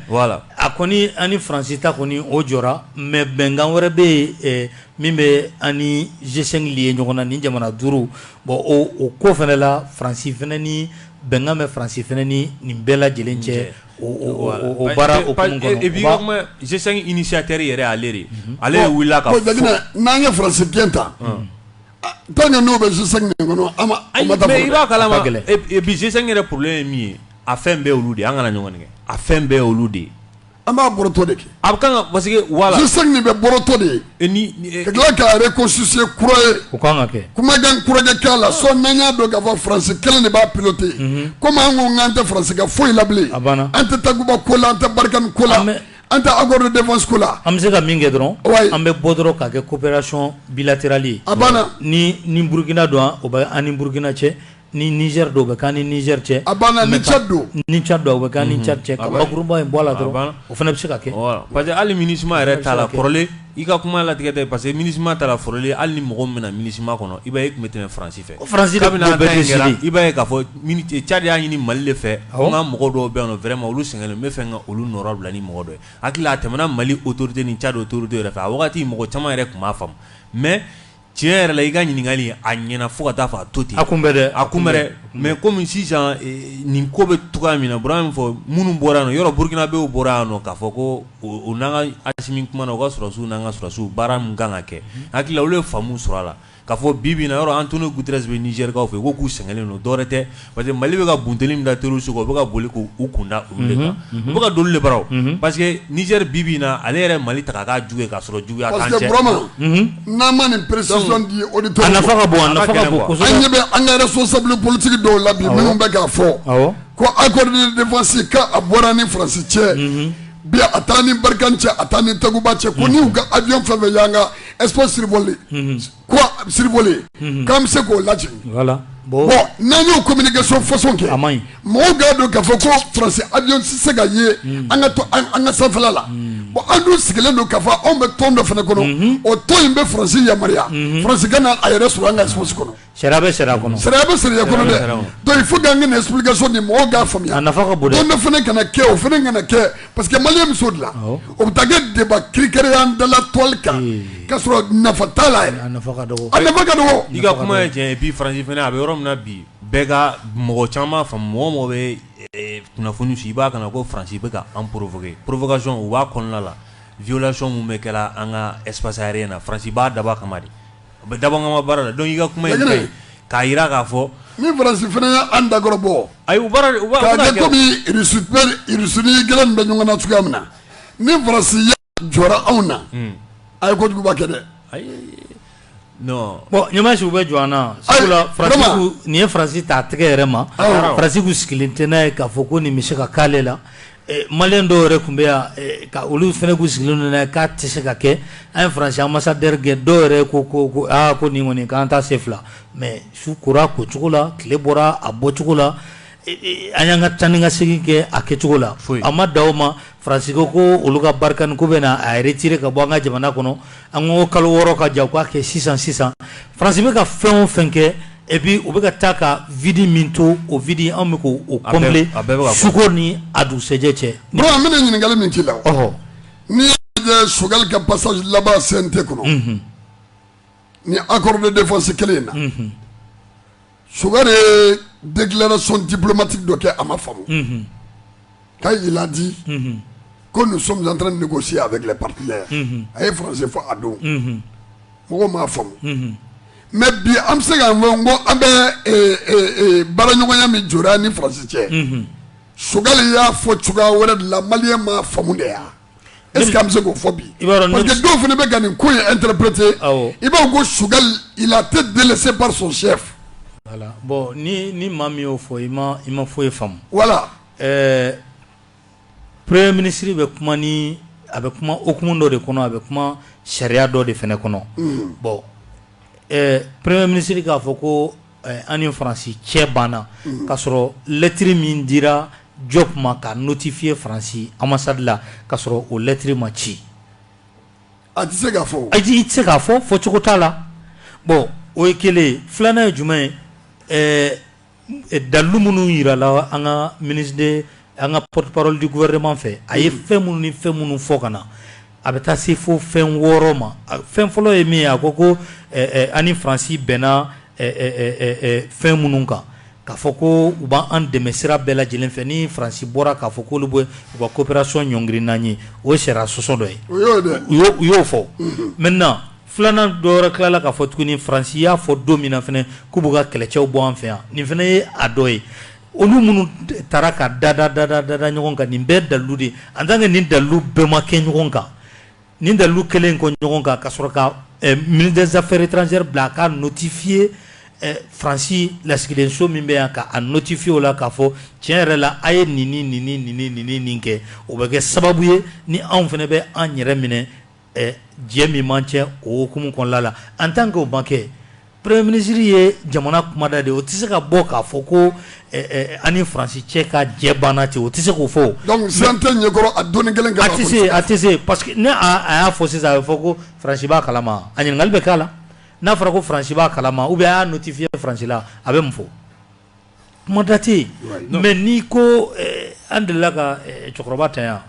a kɔni an ni faransi ta kɔni o jɔra mɛ bɛnkan wɛrɛ bɛ yen min bɛ an ni G5 lier ɲɔgɔn na ni jamana duuru bɔn o ko fana la faransi fana ni bɛnkan bɛ faransi fana ni nin bɛɛ lajɛlen cɛ G5 initiateur yɛrɛ ale de ale wulila n'an ka faransi gɛn ta n'o bɛ kɔnɔ bi G5 yɛrɛ problème ye min ye a fɛn bɛɛ olu de an kana ɲɔgɔn nɛgɛn a fɛn bɛɛ olu de ye An b'a bɔrɔtɔ de kɛ a bɛ kan parce que voilà G5 nin bɛ bɔrɔtɔ de ye ka tila k'a reconstituer kura ye o ka kan ka kɛ kumajan kojɛ k'a la sinon an y'a dɔn ka fɔ faransi kelen de b'a piloter komi an ko n'an tɛ faransi ka foyi la bilen a banna an tɛ takuba ko la an tɛ barikani ko la mɛ an tɛ accord de défense ko la an bɛ se ka min kɛ dɔrɔn an bɛ bɔ dɔrɔn ka kɛ coopération bilatérale a banna ni ni burukina don o bɛ an ni burukina cɛ ni Niger don o bɛ k'an ni Niger cɛ, a banna ni Tchad don ni Tchad don o bɛ k'an ni Tchad cɛ ka bakurunba in bɔ a la dɔrɔn o fana bɛ se ka kɛ voilà parce que hali Minusima yɛrɛ ta la kɔrɔlen i ka kuma latigɛ tɛ parce que Minusima ta la kɔrɔlen hali ni mɔgɔ min bɛ na Minusima kɔnɔ i b'a ye i tun bɛ tɛmɛ France fɛ, ko France de tun b'o bɛɛ décider i b'a ye k'a fɔ Tchad y'a ɲini Mali de fɛ ko n ka mɔgɔ dɔw bɛ yan nɔ vraiment olu sɛgɛnnen don n bɛ fɛ ka olu nɔyɔrɔ bila ni mɔgɔ dɔ ye n hakili la a tɛmɛna Mali autorité ni Tchad autorité yɛrɛ fɛ a wagati mɔgɔ caman yɛrɛ tun m'a faamu mais Tiɲɛ yɛrɛ la i ka ɲininkali a ɲɛna fo ka taa fɔ a to ten a kun bɛ a kun mɛ kɔmi sisan nin ko bɛ tugu min na Burama min fɔ minnu bɔra yan yɔrɔ burukinabɛw bɔra yan k'a fɔ ko u n'an ka Asimi kumana u ka sɔrɔsiw n'an ka sɔrɔsiw baara min kan ka kɛ n hakili la olu ye faamu sɔrɔ a la ka fɔ bi yɔrɔ Antonio Guterres bɛ nizɛrikaw fɛ k'u sɛgɛnnen don dɔwɛrɛ tɛ parce que Mali bɛ ka bunteni min da terroristes kan, u bɛ ka boli k'u kunda olu de kan, unhun, unhun, u bɛ ka don olu de bara o, unhun, parce que Niger bi bi in na ale yɛrɛ ye Mali ta k'a k'a jugu ye k'a sɔrɔ juguya t'an cɛ, parce que Burama, unhun, n'an ma nin précision di auditeur a nafa ka bon, a nafa ka bon kosɛbɛ, an ɲɛ bɛ an ka responsable politique dɔw la bi minnu bɛ k'a fɔ, awɔ, ko accord de défense k'a bɔra an ni France cɛ, unhun, bi a t'an ni Barkhane cɛ a t'an ni Takuba cɛ ko ni u ka avion fɛn o fɛn y'an ka espace survoler ko sariya b'an bolo k'an bɛ se k'o lajɛ bon n'an y'o communication façon kɛ mɔgɔw k'a dɔn k'a fɔ ko France avion tɛ se ka ye hmm. an ka to an ka sanfɛla la hmm. bon an dun sigilen don k'a fɔ anw bɛ tɔn dɔ fana kɔnɔ hmm. o tɔn in bɛ France yamaruya France ka na a yɛrɛ sɔrɔ an ka espace kɔnɔ sariya bɛ sariya kɔnɔ sariya bɛ sariya kɔnɔ dɛ donc il faut k'an ka nin explication di mɔgɔw k'a faamuya a nafa ka bon dɛ tɔn dɔ fana kana kɛ o fana kana kɛ parce que maliyɛn muso dilan o bɛ taa kɛ débat kirikɛre an dala toile kan ka sɔrɔ nafa t'a la yɛrɛ nafa ka dɔgɔ a nafa ka dɔgɔ i ka kuma ye tiɲɛ et puis faransi fana a bɛ yɔrɔ min na bi bɛɛ ka mɔgɔ caman fa mɔgɔ o mɔgɔ bɛ kunnafoni ci i b'a kan na ko faransi bɛ ka an provoquer provocation o b'a kɔnɔna la violation minnu bɛ kɛ la an ka espace aérien na faransi b'a dabɔ a kama de U bɛ dabɔkama baara la donc i ka kuma ye k'a jira k'a fɔ ni faransi fana y' an dakɔrɔ bɔ ayi comme u ni Russie nin kɛlen bɛ ɲɔgɔn na cogoya min na ni faransi y'a jɔ anw na a ye kojuguba kɛ dɛ bon ɲamasiw bɛ jɔ an na sabula nin ye faransi ta tɛgɛ yɛrɛ ma faransi tun sigilen tɛ n'a ye k'a fɔ ko nin bɛ se ka k'ale la Maliyɛn dɔw yɛrɛ tun bɛ yan ka olu fana tun sigilen k'a tɛ se ka kɛ an ye faransi ambassadeur gɛn dɔw yɛrɛ ko ko aa ko nin kɔni k'an ta sen fila mɛ su kora ko cogo la tile bɔra a bɔ cogo la an y'an ka taa ni ka segin kɛ a kɛ cogo la a ma dan o ma faransi ko olu ka Barkhane k'u bɛna a retirer ka bɔ an ka jamana kɔnɔ an ko kalo wɔɔrɔ ka jan u k'a kɛ sisan sisan faransi bɛ ka fɛn o fɛn kɛ epi u bɛ ka taa ka vide min to o vide anw bɛ k'o combler su ko ni a dugusɛjɛ cɛ n bɛna ɲininkali min k'i la n'i ye Choguel ka passage laban CNT kɔnɔ nin accord de défense kelen in na Choguel ye déclaration diplomatique dɔ kɛ a ma faamu, unhun, quand il a dit, unhun, ko nous sommes en train de negocier avec les partenaires unhun, a ye français fɔ o don, unhun, mɔgɔw m'a faamu, unhun, mais bi an bɛ se k'a fɔ n ko an bɛ ee, ee, baaraɲɔgɔnya min jɔra an ni France cɛ, unhun, Choguel y'a fɔ cogoya wɛrɛ de la maliyɛn m'a faamu de wa? E bɛ se k'o fɔ bi dɔw fana bɛ ka nin ko an teripurete i b'a ko sukali i la tɛ deli se sɛ bɔn ni ni maa min y'o fɔ i ma i ma fɔ ye faamu wala ɛɛ purere minisiriri bɛ kuma ni a bɛ kuma ok dɔ de kɔnɔ a bɛ kuma sariya dɔ de fana kɔnɔ bɔn purre minisiriri k'a fɔ ko An ni faransi cɛ banna k'a sɔrɔ lɛtiri min dira Diop ma ka notifiye faransi ambassade la k'a sɔrɔ o lɛtiri ma ci a tɛ se ka fɔ ayi tɛ se k'a fɔ fɔ cogo t'a la bon o ye kelen filanan ye jumɛn ye dalu minnu jirala an ka minisiri de an ka porte parole du gouvernement fɛ a ye fɛn minnu ni fɛn minnu fɔ ka na a bɛ taa se fo fɛn wɔɔrɔ ma fɛn fɔlɔ ye min ye a ko ko an ni faransi bɛnna fɛn minnu kan k'a fɔ ko u b'an dɛmɛ sira bɛɛ lajɛlen fɛ ni faransi bɔra k'a fɔ ko olu b'u ka coopération ɲɔngiri nin ye o sariya sɔsɔ dɔ ye u y'o fɔ maintenant filanan dɔ jirala k'a fɔ tuguni ni faransi y'a fɔ don min na fana k'u b'u ka kɛlɛcɛw bɔ an fɛ yan nin fana ye a dɔ ye olu minnu tara ka dada dada dada ɲɔgɔn kan nin bɛɛ dalu de en tant que nin dalu bɛɛ ma kɛ ɲɔgɔn kan nin dalu kɛlen kɔ ɲɔgɔn kan ka sɔrɔ ka eh, ministre des affaires étrangères bila a ka notifiye eh, faransi lasigidenso min bɛ yan ka a notifiye o la k'a fɔ tiɲɛ yɛrɛ la a ye nin ni nin ni nin ni nin ni nin kɛ o bɛ kɛ sababu ye ni anw fana bɛ an yɛrɛ minɛ jɛ min b'an cɛ o hukumu kɔnɔla la en tant que o ma kɛ premier ministre ye jamana kumada de o tɛ se ka bɔ k'a fɔ ko an ni faransi cɛ ka jɛ banna ten o tɛ se k'o fɔ ɲɛ a don kelen a tɛ se a tɛ se parce que ni a y'a fɔ sisan a bɛ fɔ ko faransi b'a kalama a ɲininkali bɛ k'a la n'a fɔra ko faransi b'a kalama u bɛ y'a notifiye faransi la a bɛ mun fɔ Kuma da tɛ yen mais n'i ko an delila ka cɛkɔrɔba ta yan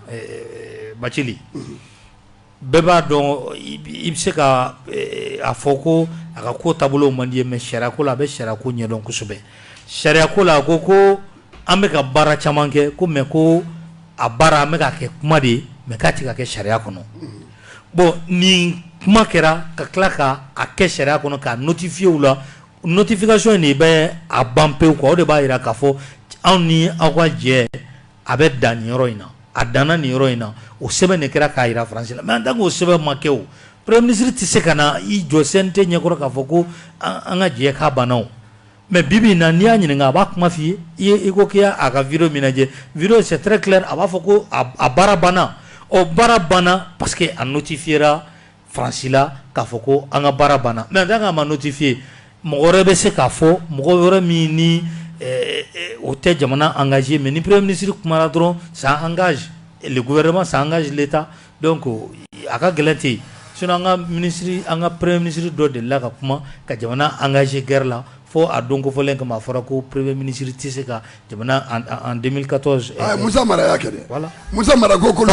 Bacili bɛɛ b'a dɔn i bɛ se ka a fɔ ko a ka ko taabolow man di i ye mais sariya ko la a bɛ sariya ko ɲɛdɔn kosɛbɛ sariya ko la a ko ko an bɛka baara caman kɛ ko mais ko a baara an bɛka kɛ kuma de ye mais k'a tigɛ k'a kɛ sariya kɔnɔ bon ni kuma kɛra ka tila k'a kɛ sariya kɔnɔ k'a notifiye u la Notification de bɛ a ban pewu quoi o de b'a jira k'a fɔ anw ni aw ka jɛ a bɛ dan nin yɔrɔ in na, a danna nin yɔrɔ in na, o sɛbɛn de kɛra k'a jira France la mais en tant que o sɛbɛn ma kɛ o, premier ministre tɛ se ka na i jɔ CNT ɲɛkɔrɔ k'a fɔ ko an ka jɛ k'a banna o mais bi bi in na n'i y'a ɲininka a b'a kuma f'i ye i ko k'i y'a a ka video min lajɛ video c'est très clair a b'a fɔ ko a baara banna ɔ baara banna parce que a notifiera Faransi la k'a fɔ ko an ka baara banna mais en tant que a ma notifiye mɔgɔ wɛrɛ bɛ se k'a fɔ mɔgɔ wɛrɛ min ni o tɛ jamana engagé mais ni premier ministre kumara dɔrɔn ça engage le gouvernement ça engage l'État donc a ka gɛlɛn dɛ sinon an ka minisiri an ka premier ministre dɔ delila ka kuma ka jamana engagé guerre la fo a don kofɔlen kama a fɔra ko premier ministre tɛ se ka musa mara y'a kɛ musa mara ko ko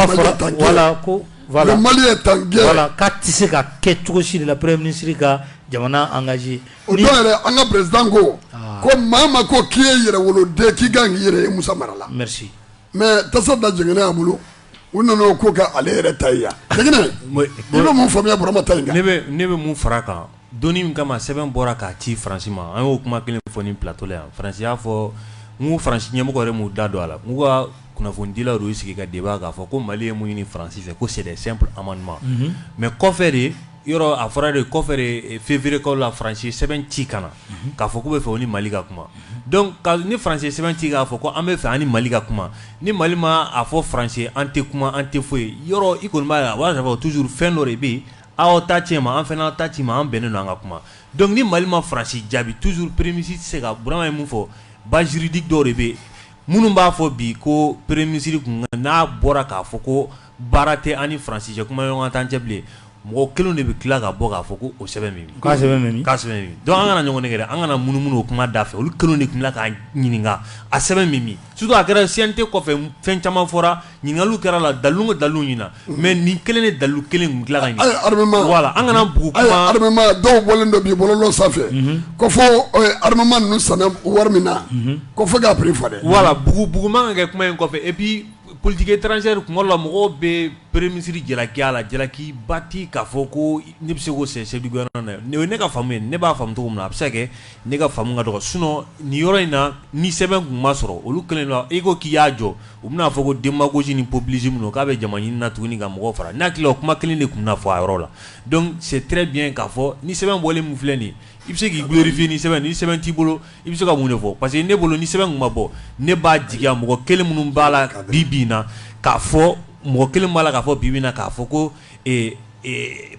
mali tan ka tɛ se ka kɛ cogo si la premier ministre ka jamana engager o yɛrɛ an ka président ko ko maa ma ko k'i ye yɛrɛwoloden k'i ka yɛrɛ ye musa mara la mais tasa da jɛngɛ y'a bolo u nɔnɔ ko kɛ ale yɛrɛ ta yan i bɛ mun faamuya burama ta ne bɛ min fara kan Don min kama sɛbɛn bɔra k'a ci faransi ma an y'o kuma kelen fɔ nin plateau la yan faransi y'a fɔ n'u faransi ɲɛmɔgɔ yɛrɛ m'u da don a la n'u ka kunnafonidilaw y'u sigi ka débat k'a fɔ ko mali ye mun ɲini faransi fɛ ko sɛɛrɛ sɛp a ma ɲumanuma mɛ kɔfɛ de yɔrɔ a fɔra de kɔfɛ fɛnfierekaw la faransi sɛbɛn ci ka na k'a fɔ k'u bɛ fɛ ni mali ka kuma ni faransi sɛbɛn ci k'a fɔ ko an bɛ fɛ ni mali ka kuma ni mali ma a fɔ faransi an tɛ kuma an tɛ foyi ye yɔrɔ i kɔni b'a la a b'a sɔrɔ toujours fɛn dɔ de bɛ yen Aw ta cɛ ma an fana ta ci ma an bɛnnen don an ka kuma donc ni mali ma faransi jaabi toujours peremisi se ka bura ye min fɔ baziridi dɔw de bɛ minnu b'a fɔ bi ko premier ministre kun n'a bɔra k'a fɔ ko baara tɛ an ni faransi cɛ kuma ɲɔgɔn t'an cɛ bilen mɔgɔ kelen de bɛ tila ka bɔ k'a fɔ ko o sɛbɛn min an kana ɲɔgɔn kɛ an kana munumunu o kuma da fɛ olu kelen de tun k'a ɲininka a sɛbɛn min surtout a kɛra CNT kɔfɛ fɛn caman fɔra ɲininkaliw kɛra a la dalilu ko dalilu ɲina mais nin kelen de dalilu kelen kun tila ka ɲɛ ayi armement voilà an kana bugu ayi kuma armement dɔw bɔlen don bi bɔlɔlɔ sanfɛ ko fo eh, armement ninnu sanna wari min na ko fo k'a prix fɔ dɛ voilà bugu bugu man ka kɛ kuma in kɔfɛ et puis politique étrangère kuma dɔ la mɔgɔw bɛ premier ministre jalaki a la jalaki ba tɛ k'a fɔ ko ne bɛ se k'o sɛ chef du gouvernement na ne o ye ne ka faamu ye ne b'a faamu cogo min na a bɛ se ka kɛ ne ka faamu ka dɔgɔ sinon nin yɔrɔ in na ni sɛbɛn kun ma sɔrɔ olu kɛlen don i ko k'i y'a jɔ U bɛna a fɔ ko démagogie ni populisme don k'a bɛ jama ɲinina tuguni ka mɔgɔw fara n'a tila o kuma kelen de tun na fɔ a yɔrɔ la donc c'est très bien k'a fɔ nin sɛbɛn bɔlen min filɛ nin i bɛ se k'i glorifier ni sɛbɛn ni sɛbɛn t'i bolo i bɛ se ka mun de fɔ parce que ne bolo ni sɛbɛn tun ma bɔ ne b'a jigi mɔgɔ kelen minnu b'a la ka bi bɛ na k'a fɔ mɔgɔ kelen b'a la k'a fɔ bi na k'a fɔ ko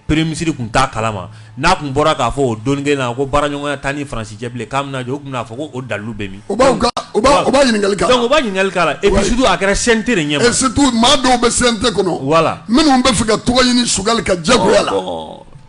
premier ministre tun t'a kalama n'a tun bɔra k'a fɔ o don kelen na ko baaraɲɔgɔnya t'an ni faransi cɛ bilen k'a bɛna jɔ u tun na fɔ ko o dalu bɛ min ɲininkali ɲininkali surtout a kɛra CNT ɲɛ maa dɔw bɛ CNT kɔnɔ voilà minnu bɛ fɛ ka tɔgɔ ɲini Choguel ka jɛ la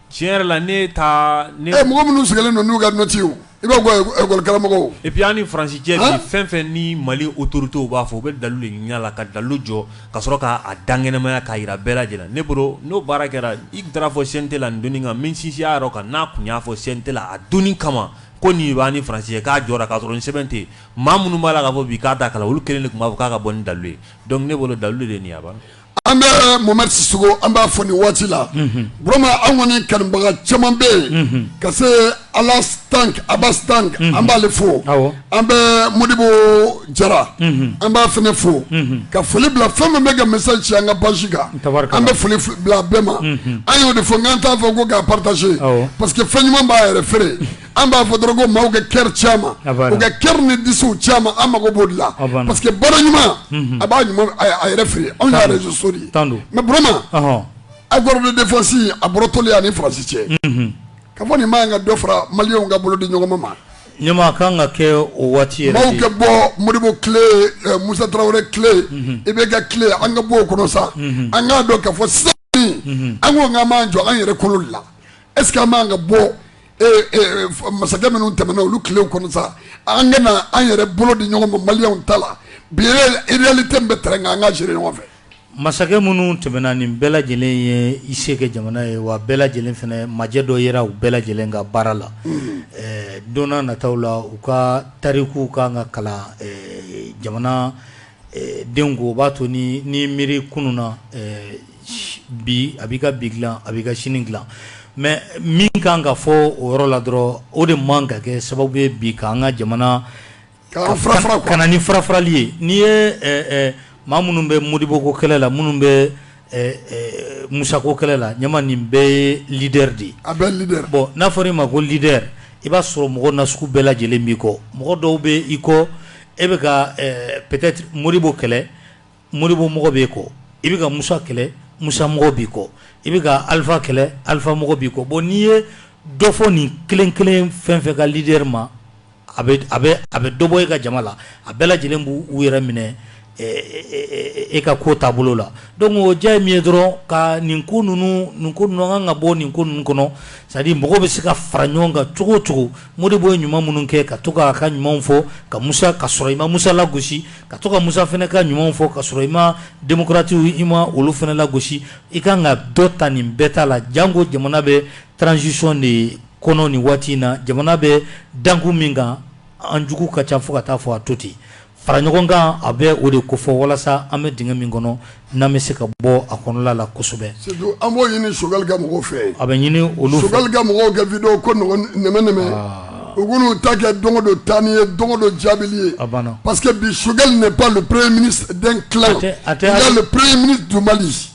tiɲɛ yɛrɛ la ne ta mɔgɔ minnu sigilen don n'u ka nɔti I b'a fɔ lakɔlikaramɔgɔ et puis an ni faransi cɛ bi fɛn fɛn ni mali autoritéw b'a fɔ u bɛ dalu de ɲini a la ka dalu jɔ ka sɔrɔ k'a dankɛnɛmaya k'a jira bɛɛ lajɛlen ne bolo n'o baara kɛra i taara a fɔ CNT la don kan min sinsin a yɔrɔ kan n'a tun y'a fɔ CNT la a don kama ko nin b'an ni faransi cɛ k'a jɔ k'a sɔrɔ sɛbɛn tɛ maa minnu b'a la k'a fɔ bi k'a t'a kala olu kelen de tun b'a fɔ k'a ka bɔ ni dalu ye donc ne bolo dalu de nin a an bɛ momari sisɔkɔ an b'a fo nin waati la burama an kɔni kanubaga caman bɛ yen ka se ala tan a bɛ tan an b'ale fo an bɛ modibo jara an b'a fana fo ka foli bila fɛn min bɛ ka message ci an ka page kan an bɛ foli bila bɛɛ ma an y'o de fɔ k'an t'a fɔ ko k'a partager parce que fɛn ɲuman b'a yɛrɛ feere an b'a fɔ dɔrɔn ko maaw kɛ kɛri caman u kɛ kɛri ni disiw caman an mago b'o la parce que baara ɲuman mhm. a b'a ɲuman a yɛrɛ feere anw ye réseaux sociaux de ye mais burama accord de défense a bɔrɔtɔli an ni faransi cɛ mhm. ka fɔ nin man kan ka dɔ fara maliyɛnw ka bolo di ɲɔgɔn ma nin man kan ka kɛ o waati yɛrɛ maaw ka bɔ modibo tile eh, musa tarawele tile mhm. IBK tile an ka bɔ o kɔnɔ sa an k'a dɔn ka fɔ sisan an ko k'an b'an jɔ an yɛrɛ kolo la est-ce que an man kan ka bɔ masakɛ minnu tɛmɛna olu tilew kɔnɔ sa an ka na an yɛrɛ bolo di ɲɔgɔn ma maliyɛnw ta la bi réalité min bɛ terrain kan an k'a gérer ɲɔgɔn fɛ masakɛ minnu tɛmɛna nin bɛɛ lajɛlen ye i se kɛ jamana ye wa bɛɛ lajɛlen fana ma jɛ dɔ yera u bɛɛ lajɛlen ka baara la eh, don nataw la u ka tarikuw ka kan ka kalan eh, jamana eh, denw kun o b'a to ni ni miiri kunun na bi a b'i ka bi dilan a b'i ka sini dilan mais min ka kan ka fɔ o yɔrɔ la dɔrɔn o de man kan ka kɛ sababu ye bi ka an ka jamana ka na ni farafarali ye n'i ye maa minnu bɛ modiboko kɛlɛ la minnu bɛ musako kɛlɛ la a nin bɛɛ ye leader de ye bon n'a fɔra i ma ko leader i b'a sɔrɔ mɔgɔ na sugu bɛɛ lajɛlen b'i kɔ mɔgɔ dɔw bɛ i kɔ e bɛ ka peut-être modibo kɛlɛ Modibo mɔgɔ b'i kɔ i bɛ ka Musa kɛlɛ Musa mɔgɔ b'i kɔ i bɛ ka Alifa kɛlɛ Alifa mɔgɔ b'i kɔ bon n'i ye dɔ fɔ nin kelen kelen fɛn o fɛn ka leader ma a bɛ a bɛ a bɛ dɔ bɔ e ka jama la a bɛɛ lajɛlen b'u yɛrɛ minɛ e ka ko taabolo la donc idéal ye min ye dɔrɔn ka nin ko ninnu nin ko ninnu an ka kan ka bɔ nin ko ninnu kɔnɔ c'est à dire mɔgɔw bɛ se ka fara ɲɔgɔn kan cogo o cogo Modibo ye ɲuman minnu kɛ ka to k'a ka ɲumanw fɔ ka Musa ka sɔrɔ i ma Musa lagosi ka to ka Musa fana ka ɲumanw fɔ ka sɔrɔ i ma démocrates i ma olu fana lagosi i ka kan ka dɔ ta nin bɛɛ ta la janko jamana bɛ transition de kɔnɔ nin waati in na jamana bɛ dankun min kan an jugu ka ca fo ka taa fɔ a to ten fara ɲɔgɔn kan a bɛ o de kofɔ walasa an bɛ dingɛ min kɔnɔ n'an bɛ se ka bɔ a kɔnɔla la kosɛbɛ an b'o ɲini sokɛkali ka mɔgɔw fɛ a bɛ ɲini olu sokɛkali ka mɔgɔw kɛ vi ko nɛmɛ u ta kɛ don don taa ni ye don don jaabi ye a banna pa que bi sokɛkali de ba pere mini den pere mini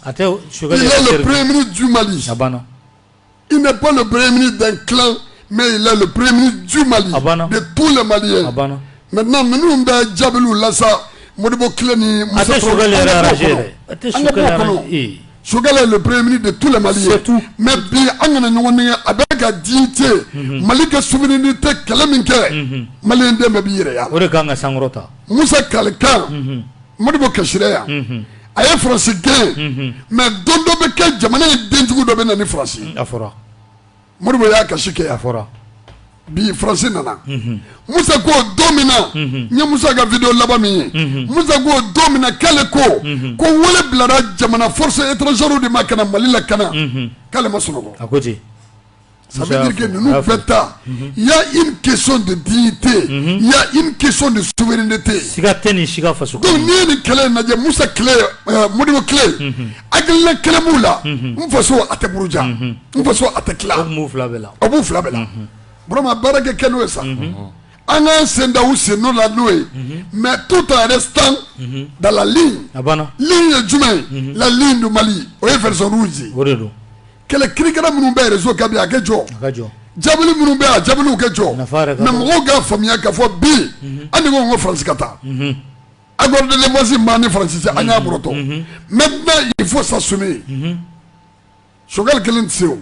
a pere mini juma a banna Il n'est pas le premier ministre d'un clan, mais il est le premier ministre du Mali, Abana. de tous les Maliens. Abana. Maintenant, minnu bɛ jaabiliw lase, Modibo clan ni Moussa Traoré, an ka bɔ o kɔnɔ. An ka bɔ o kɔnɔ. Choguel est le premier ministre de tous les Maliens. C'est tout. Mais bi, an kana ɲɔgɔn nɛgɛn a bɛ ka dignité mhm. mali ka souveraineté kɛlɛ min kɛ mhm. maliyɛn den bɛɛ b'i yɛrɛ y'a la. o de ka kan ka sankɔrɔta. musa kalikan. Mhm. modibo kasira yan a ye faransi gɛn mais don dɔ bɛ kɛ jamana ye denjugu dɔ bɛ na ni faransi a fɔ modibo y'a kasi kɛ a bi faransi nana musa ko don min na n ye musa ka vidéo laban min ye musa ko don min kɛlen ko ko wele bilara jamana force étrangère de ma ka na mali lakana k'ale ma sunɔgɔ Sa kɛ ninnu bɛɛ taa ya i ke de di tɛ ya i ke de so de tɛ siiga tɛ ni si faso n ye ni kɛlɛ in lajɛ musa mori kɛlɛ a kɛlɛ b'u la n faso a tɛ buruja n faso a tɛ la a b'u fila bɛ la baarakɛ kɛ n'o ye sa an ka senda u sen n'o la n'o ye mɛ tu ta yɛrɛ tan dala ye jumɛn la dun mali o ye fɛɛrɛw ye kɛlɛ kirikara minnu bɛ rezo kan bi a ka jɔ jaabili minnu bɛ a jaabiliw ka jɔ mais mɔgɔw ka faamuya ka fɔ bi mhm. an ko ko faransi ka taa mhm. accord de défense mali ni faransi cɛ an y'a bɔrɔtɔ mhm. maintenant il faut s'assumer choguel kelen tɛ se o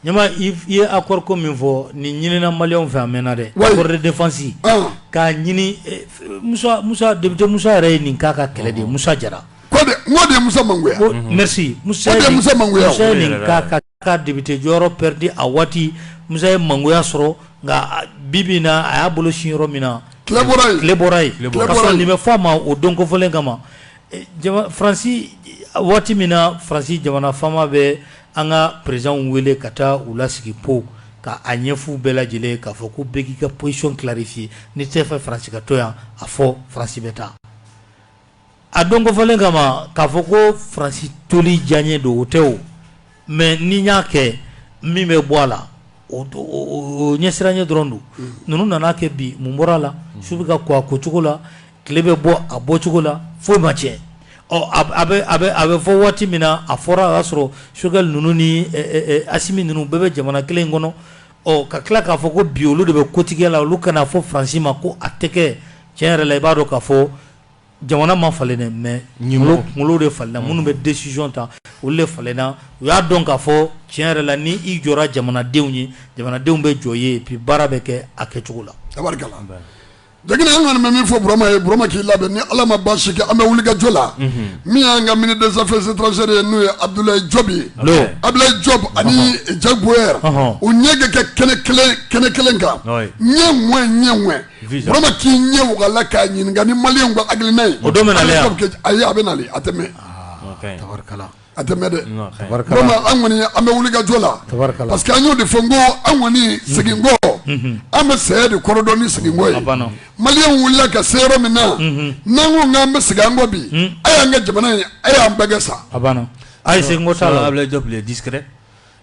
ɲama i ye accord ko min fɔ nin ɲinina maliyɛnw fɛ a mɛnna dɛ accord de défense ah. k'a ɲini eh, musa musa député musa jara ye nin k'a ka kɛlɛ de ye musa jara n'o de ye Musa mangoya mhm. merci Musa ye Musa mangoya Musa ye nin kɛ k'a ka député jɔyɔrɔ perdre a waati Musa ye mangoya sɔrɔ nka bi bi in na a y'a bolo sin yɔrɔ min na tile bɔra yen tile bɔra yen ka sɔrɔ nin bɛ fɔ a ma o don kofɔlen kama eh, jama Faransi waati min na Faransi jamana faama bɛ an ka présidents wele ka taa u lasigi Pau ka a ɲɛf'u bɛɛ lajɛlen k'a fɔ ko bɛɛ k'i ka position clarifier n'i t'a fɛ Faransi ka to yan a fɔ Faransi bɛ taa a don kofɔlen kama k'a fɔ ko faransi toli diyanye don o tɛ o mais n'i y'a kɛ min bɛ bɔ a la o ɲɛsiranɲɛ dɔrɔn don ninnu nana a kɛ bi mun bɔra a la su bɛ ka ko a ko cogo la tile bɛ bɔ a bɔ cogo la foyi ma cɛn ɔ a bɛ fɔ waati min na a fɔra a y'a sɔrɔ choguel ninnu ni assimi ninnu bɛɛ bɛ jamana kelen in kɔnɔ ɔ ka tila k'a fɔ ko bi olu de bɛ kotigɛ la olu ka na a fɔ faransi ma ko a tɛ kɛ tiɲɛ yɛrɛ la i b'a dɔn ka fɔ jamana ma falen dɛ mais ɲɛmɔgɔ kunkolo de falenna minnu bɛ décision ta olu de falenna u y'a dɔn k'a fɔ tiɲɛ yɛrɛ la ni i jɔra jamanadenw ye jamanadenw bɛ jɔ i ye et puis baara bɛ kɛ a kɛcogo la a barika Jakite an kɔni bɛ min fɔ Burama ye Burama k'i labɛn ni Ala ma baasi kɛ an bɛ wulikajɔ la min y'an ka ministre des affaires étrangères ye n'o ye Abudulayi Jɔpu ye Abudulayi Jɔpu ani Jack Bauer u ɲɛ ka kɛ kɛnɛ kelen kan eh ouais eh ouais Burama k'i ɲɛ waga a la k'a ɲininka ni Mali ka hakilina ye o don a ayi a bɛ na a tɛ mɛɛn a tɛ mɛɛn dɛ an kɔni an bɛ wulikajɔ la parce que an y'o de fɔ ko an kɔni segin kɔ an bɛ saya de kɔrɔdɔn ni segin kɔ ye Mali wulila ka se yɔrɔ min na n'an ko n'an bɛ segin an kɔ bi a y'an ka jamana ye a y'an bɛɛ kɛ sa a ayi segin kɔ t'a la a jɔ di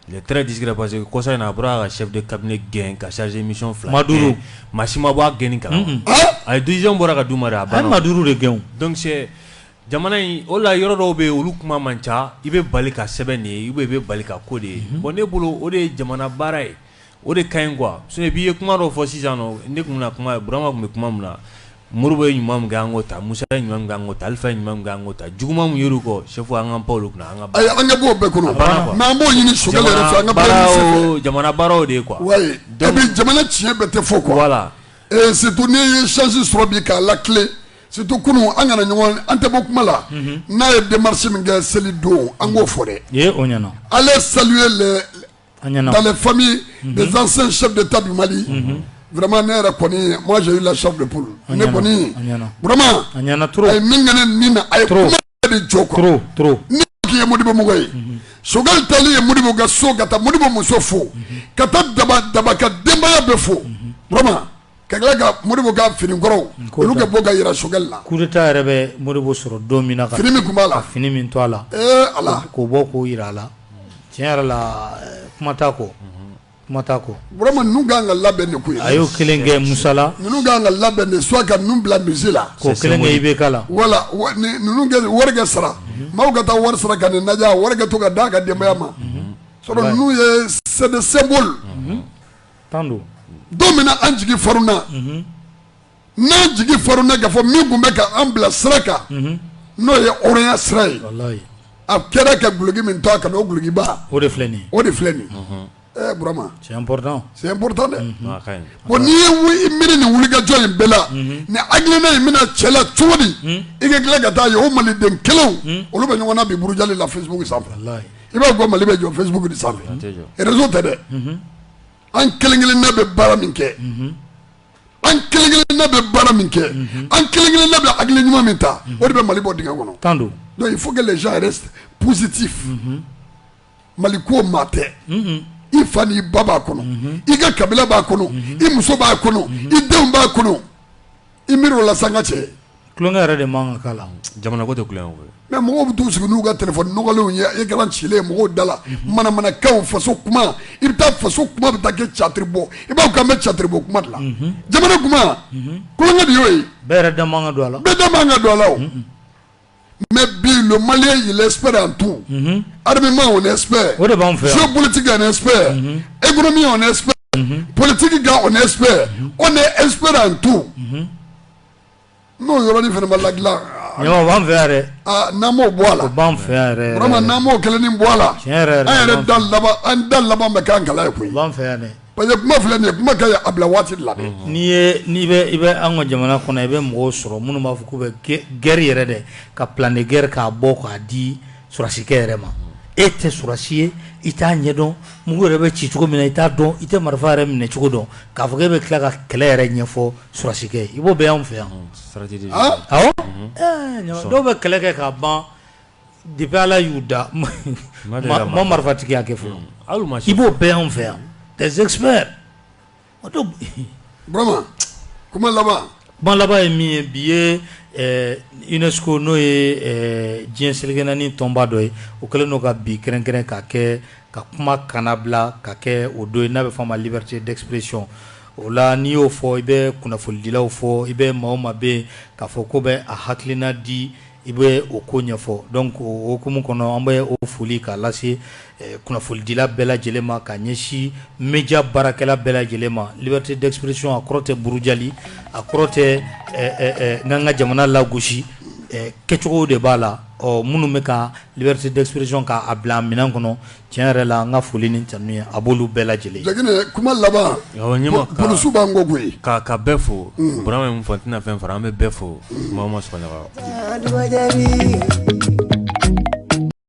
Il est très discret parce que kɔsa in na, a bɔra ka chef de cabinet gɛn ka chargé de mission fila gɛn, maa duuru, maa si ma bɔ a gɛnni kalama, un un, ayi décision bɔra ka d'u ma dɛ, a ye maa duuru de gɛn, donc c'est jamana in o de la yɔrɔ dɔw bɛ yen olu kuma man ca, i bɛ bali ka sɛbɛn de ye ou bien i bɛ bali ka ko de ye, bon ne bolo o de ye jamana baara ye o de ka ɲi quoi sinon i ye kuma dɔ fɔ sisan nɔ ne tun bɛna kuma Burama tun bɛ kuma min na Modibo ye ɲuman min kɛ an k'o ta Musa ye ɲuman min kɛ an k'o ta Alifa ye ɲuman min kɛ an k'o ta juguman min yer'u kɔ chef an k'an pan olu kunna an ka baara ayi an ɲɛ b'o bɛɛ kɔnɔ a banna quoi mais an b'o ɲini Choguel yɛrɛ fɛ an ka baara jamana ɲini baara o jamana baara o de ye quoi wayi et donc puis jamana tiɲɛ bɛɛ tɛ fɔ quoi voilà et surtout n'i ye chance sɔrɔ bi k'a latilen surtout kunun an kana ɲɔgɔn an tɛ bɔ kuma la n'a ye démarche min kɛ seli don an k'o fɔ dɛ i ye o ɲɛna aller saluer les Dalen fa zansen sɛ de ta mali vma ne yɛrɛ kɔni ma la sa de bolo ne kɔni a min kɛ min na a de jɔ ye mudibomɔgɔ ye sokɛ tali ye mudibo ka so ka taa mudibo muso fo ka taa daba daba ka denbaya bɛ fo Ka tila ka Modibo ka fini kɔrɔw olu ka bɔ ka yira Choguel la. Coup d'Etat yɛrɛ bɛ Modibo sɔrɔ don min na ka fini min tun b'a la, ka fini min to a la, ee Ala, k'o bɔ k'o jira a la, tiɲɛ yɛrɛ la kuma t'a kɔ, kuma t'a kɔ, vraiment ninnu ka kan ka labɛn nin ko in na, a y'o kelen kɛ Musa la, ninnu ka kan ka labɛn dɛ soit ka ninnu bila musée la, k'o kelen kɛ IBK la, wala, ninnu ka wari kɛ sara, maaw ka taa wari sara ka nin lajɛ, a wari ka to ka d'a ka denbaya ma, sinon ninnu ye c'est des symboles don min an jigi farina n'an jigi farina ka fɔ min tun bɛ an bila sira kan n'o ye hɔrɔnya sira ye a kɛra ka dulɔki min to a kan na o de filɛ nin o de filɛ nin c'est important dɛ n'i y'i miiri nin wulikajɔ in bɛɛ la ni hakilina in bɛna cɛ la cogo di i ka tila ka t'a ye o Maliden kelen olu bɛ ɲɔgɔn na bi burujali la Facebook sanfɛ i b'a fɔ Mali bɛ jɔ Facebook de sanfɛ réseau tɛ dɛ an kelenkelenna bɛ baara min kɛ an kelenkelenna bɛ baara min kɛ an kelenkelenna bɛ hakili ɲuman min ta o de bɛ mali bɔ dingɛ kɔnɔ tan donc il faut que les gens restent positifs mali ko maa tɛ i fa ni i ba b'a kɔnɔ i ka kabila b'a kɔnɔ i muso b'a kɔnɔ i denw b'a kɔnɔ i miiri o la sanga tɛ tulonkɛ yɛrɛ de man kan ka k'a la jamana ko tɛ tulonkɛ mais mɔgɔw bɛ taa sigi n'u ka téléphone nɔgɔlenw ye i kana tilen mɔgɔw da la manamanakan faso kuma i bɛ taa faso kuma bɛ taa kɛ catiri bɔ i b'a ka mɛ catiri bɔ kuma dilan jamana kuma tulonkɛ de y'o ye bɛɛ yɛrɛ da man kan ka don a la bɛɛ da man kan ka don a la mɛ bi le mali y'i lɛsɛ an tun adamama o lɛsɛ o de b'an fɛ so politigi ka nɛsɛ emi o lɛsɛ politigi ka o lɛsɛ o ne espɛ an tun n'o yɔrɔin fanama la dilan b'an fɛ yɛrɛ n'an b'o bɔ a la b'an fɛ yɛrɛ walima n'an b'o kelen ni bɔ a la an yɛrɛ da laban an da laban bɛ k'an kala ye koyi fɛ Parce que kuma filɛ nin ye kuma ka ɲi a bila waati de la dɛ, unhun, n'i ye n'i bɛ i bɛ an ka jamana kɔnɔ i bɛ mɔgɔw sɔrɔ minnu b'a fɔ k'u bɛ guerre yɛrɛ dɛ ka plan de guerre k'a bɔ k'a di sɔrɔdasikɛ yɛrɛ ma e tɛ sɔrɔdasi ye i t'a ɲɛdɔn mugu yɛrɛ bɛ ci cogo min na i t'a dɔn i tɛ marifa yɛrɛ minɛ cogo dɔn k'a fɔ k'e bɛ tila ka kɛlɛ yɛrɛ ɲɛfɔ sɔrɔdasikɛ ye i b'o bɛɛ y'anw fɛ yan, unhun, stratégie de don, awɔ, ɛɛ, dɔw bɛ kɛlɛ kɛ k'a ban Depuis ala y'u da u ma marifatigiya kɛ fɔ i b'o bɛɛ y'anw fɛ yan tɛsɛgɛ kuma laban kuma laban ye min ye bi ye UNESCO n'o ye diɲɛ seleke naani tɔnba dɔ ye o kɛlen don ka bi kɛrɛnkɛrɛn ka kɛ ka kumakan labila ka kɛ o don ye n'a bɛ f'a ma liberté d'expression o la n'i y'o fɔ i bɛ kunnafonidilaw fɔ i bɛ maa ma bɛ yen k'a fɔ ko bɛ a hakilina di I bɛ o ko ɲɛfɔ donc o hukumu kɔnɔ an bɛ o foli k'a lase kunnafonidila bɛɛ lajɛlen ma ka ɲɛsin média baarakɛla bɛɛ lajɛlen ma liberté d'expression a kɔrɔ tɛ burujali a kɔrɔ tɛ k'an ka jamana lagosi kɛcogo de b'a la ɔ minnu bɛ ka liberté d'expression k'a bila a minɛn kɔnɔ Tiɲɛ yɛrɛ la an ka foli ni tanuni a b'olu bɛɛ lajɛlen ye kuma laban ɲɛsu b'an ko koyi ka ka bɛɛ fo bɔra min fɔ tɛna fɛn fara an bɛ bɛɛ fo ma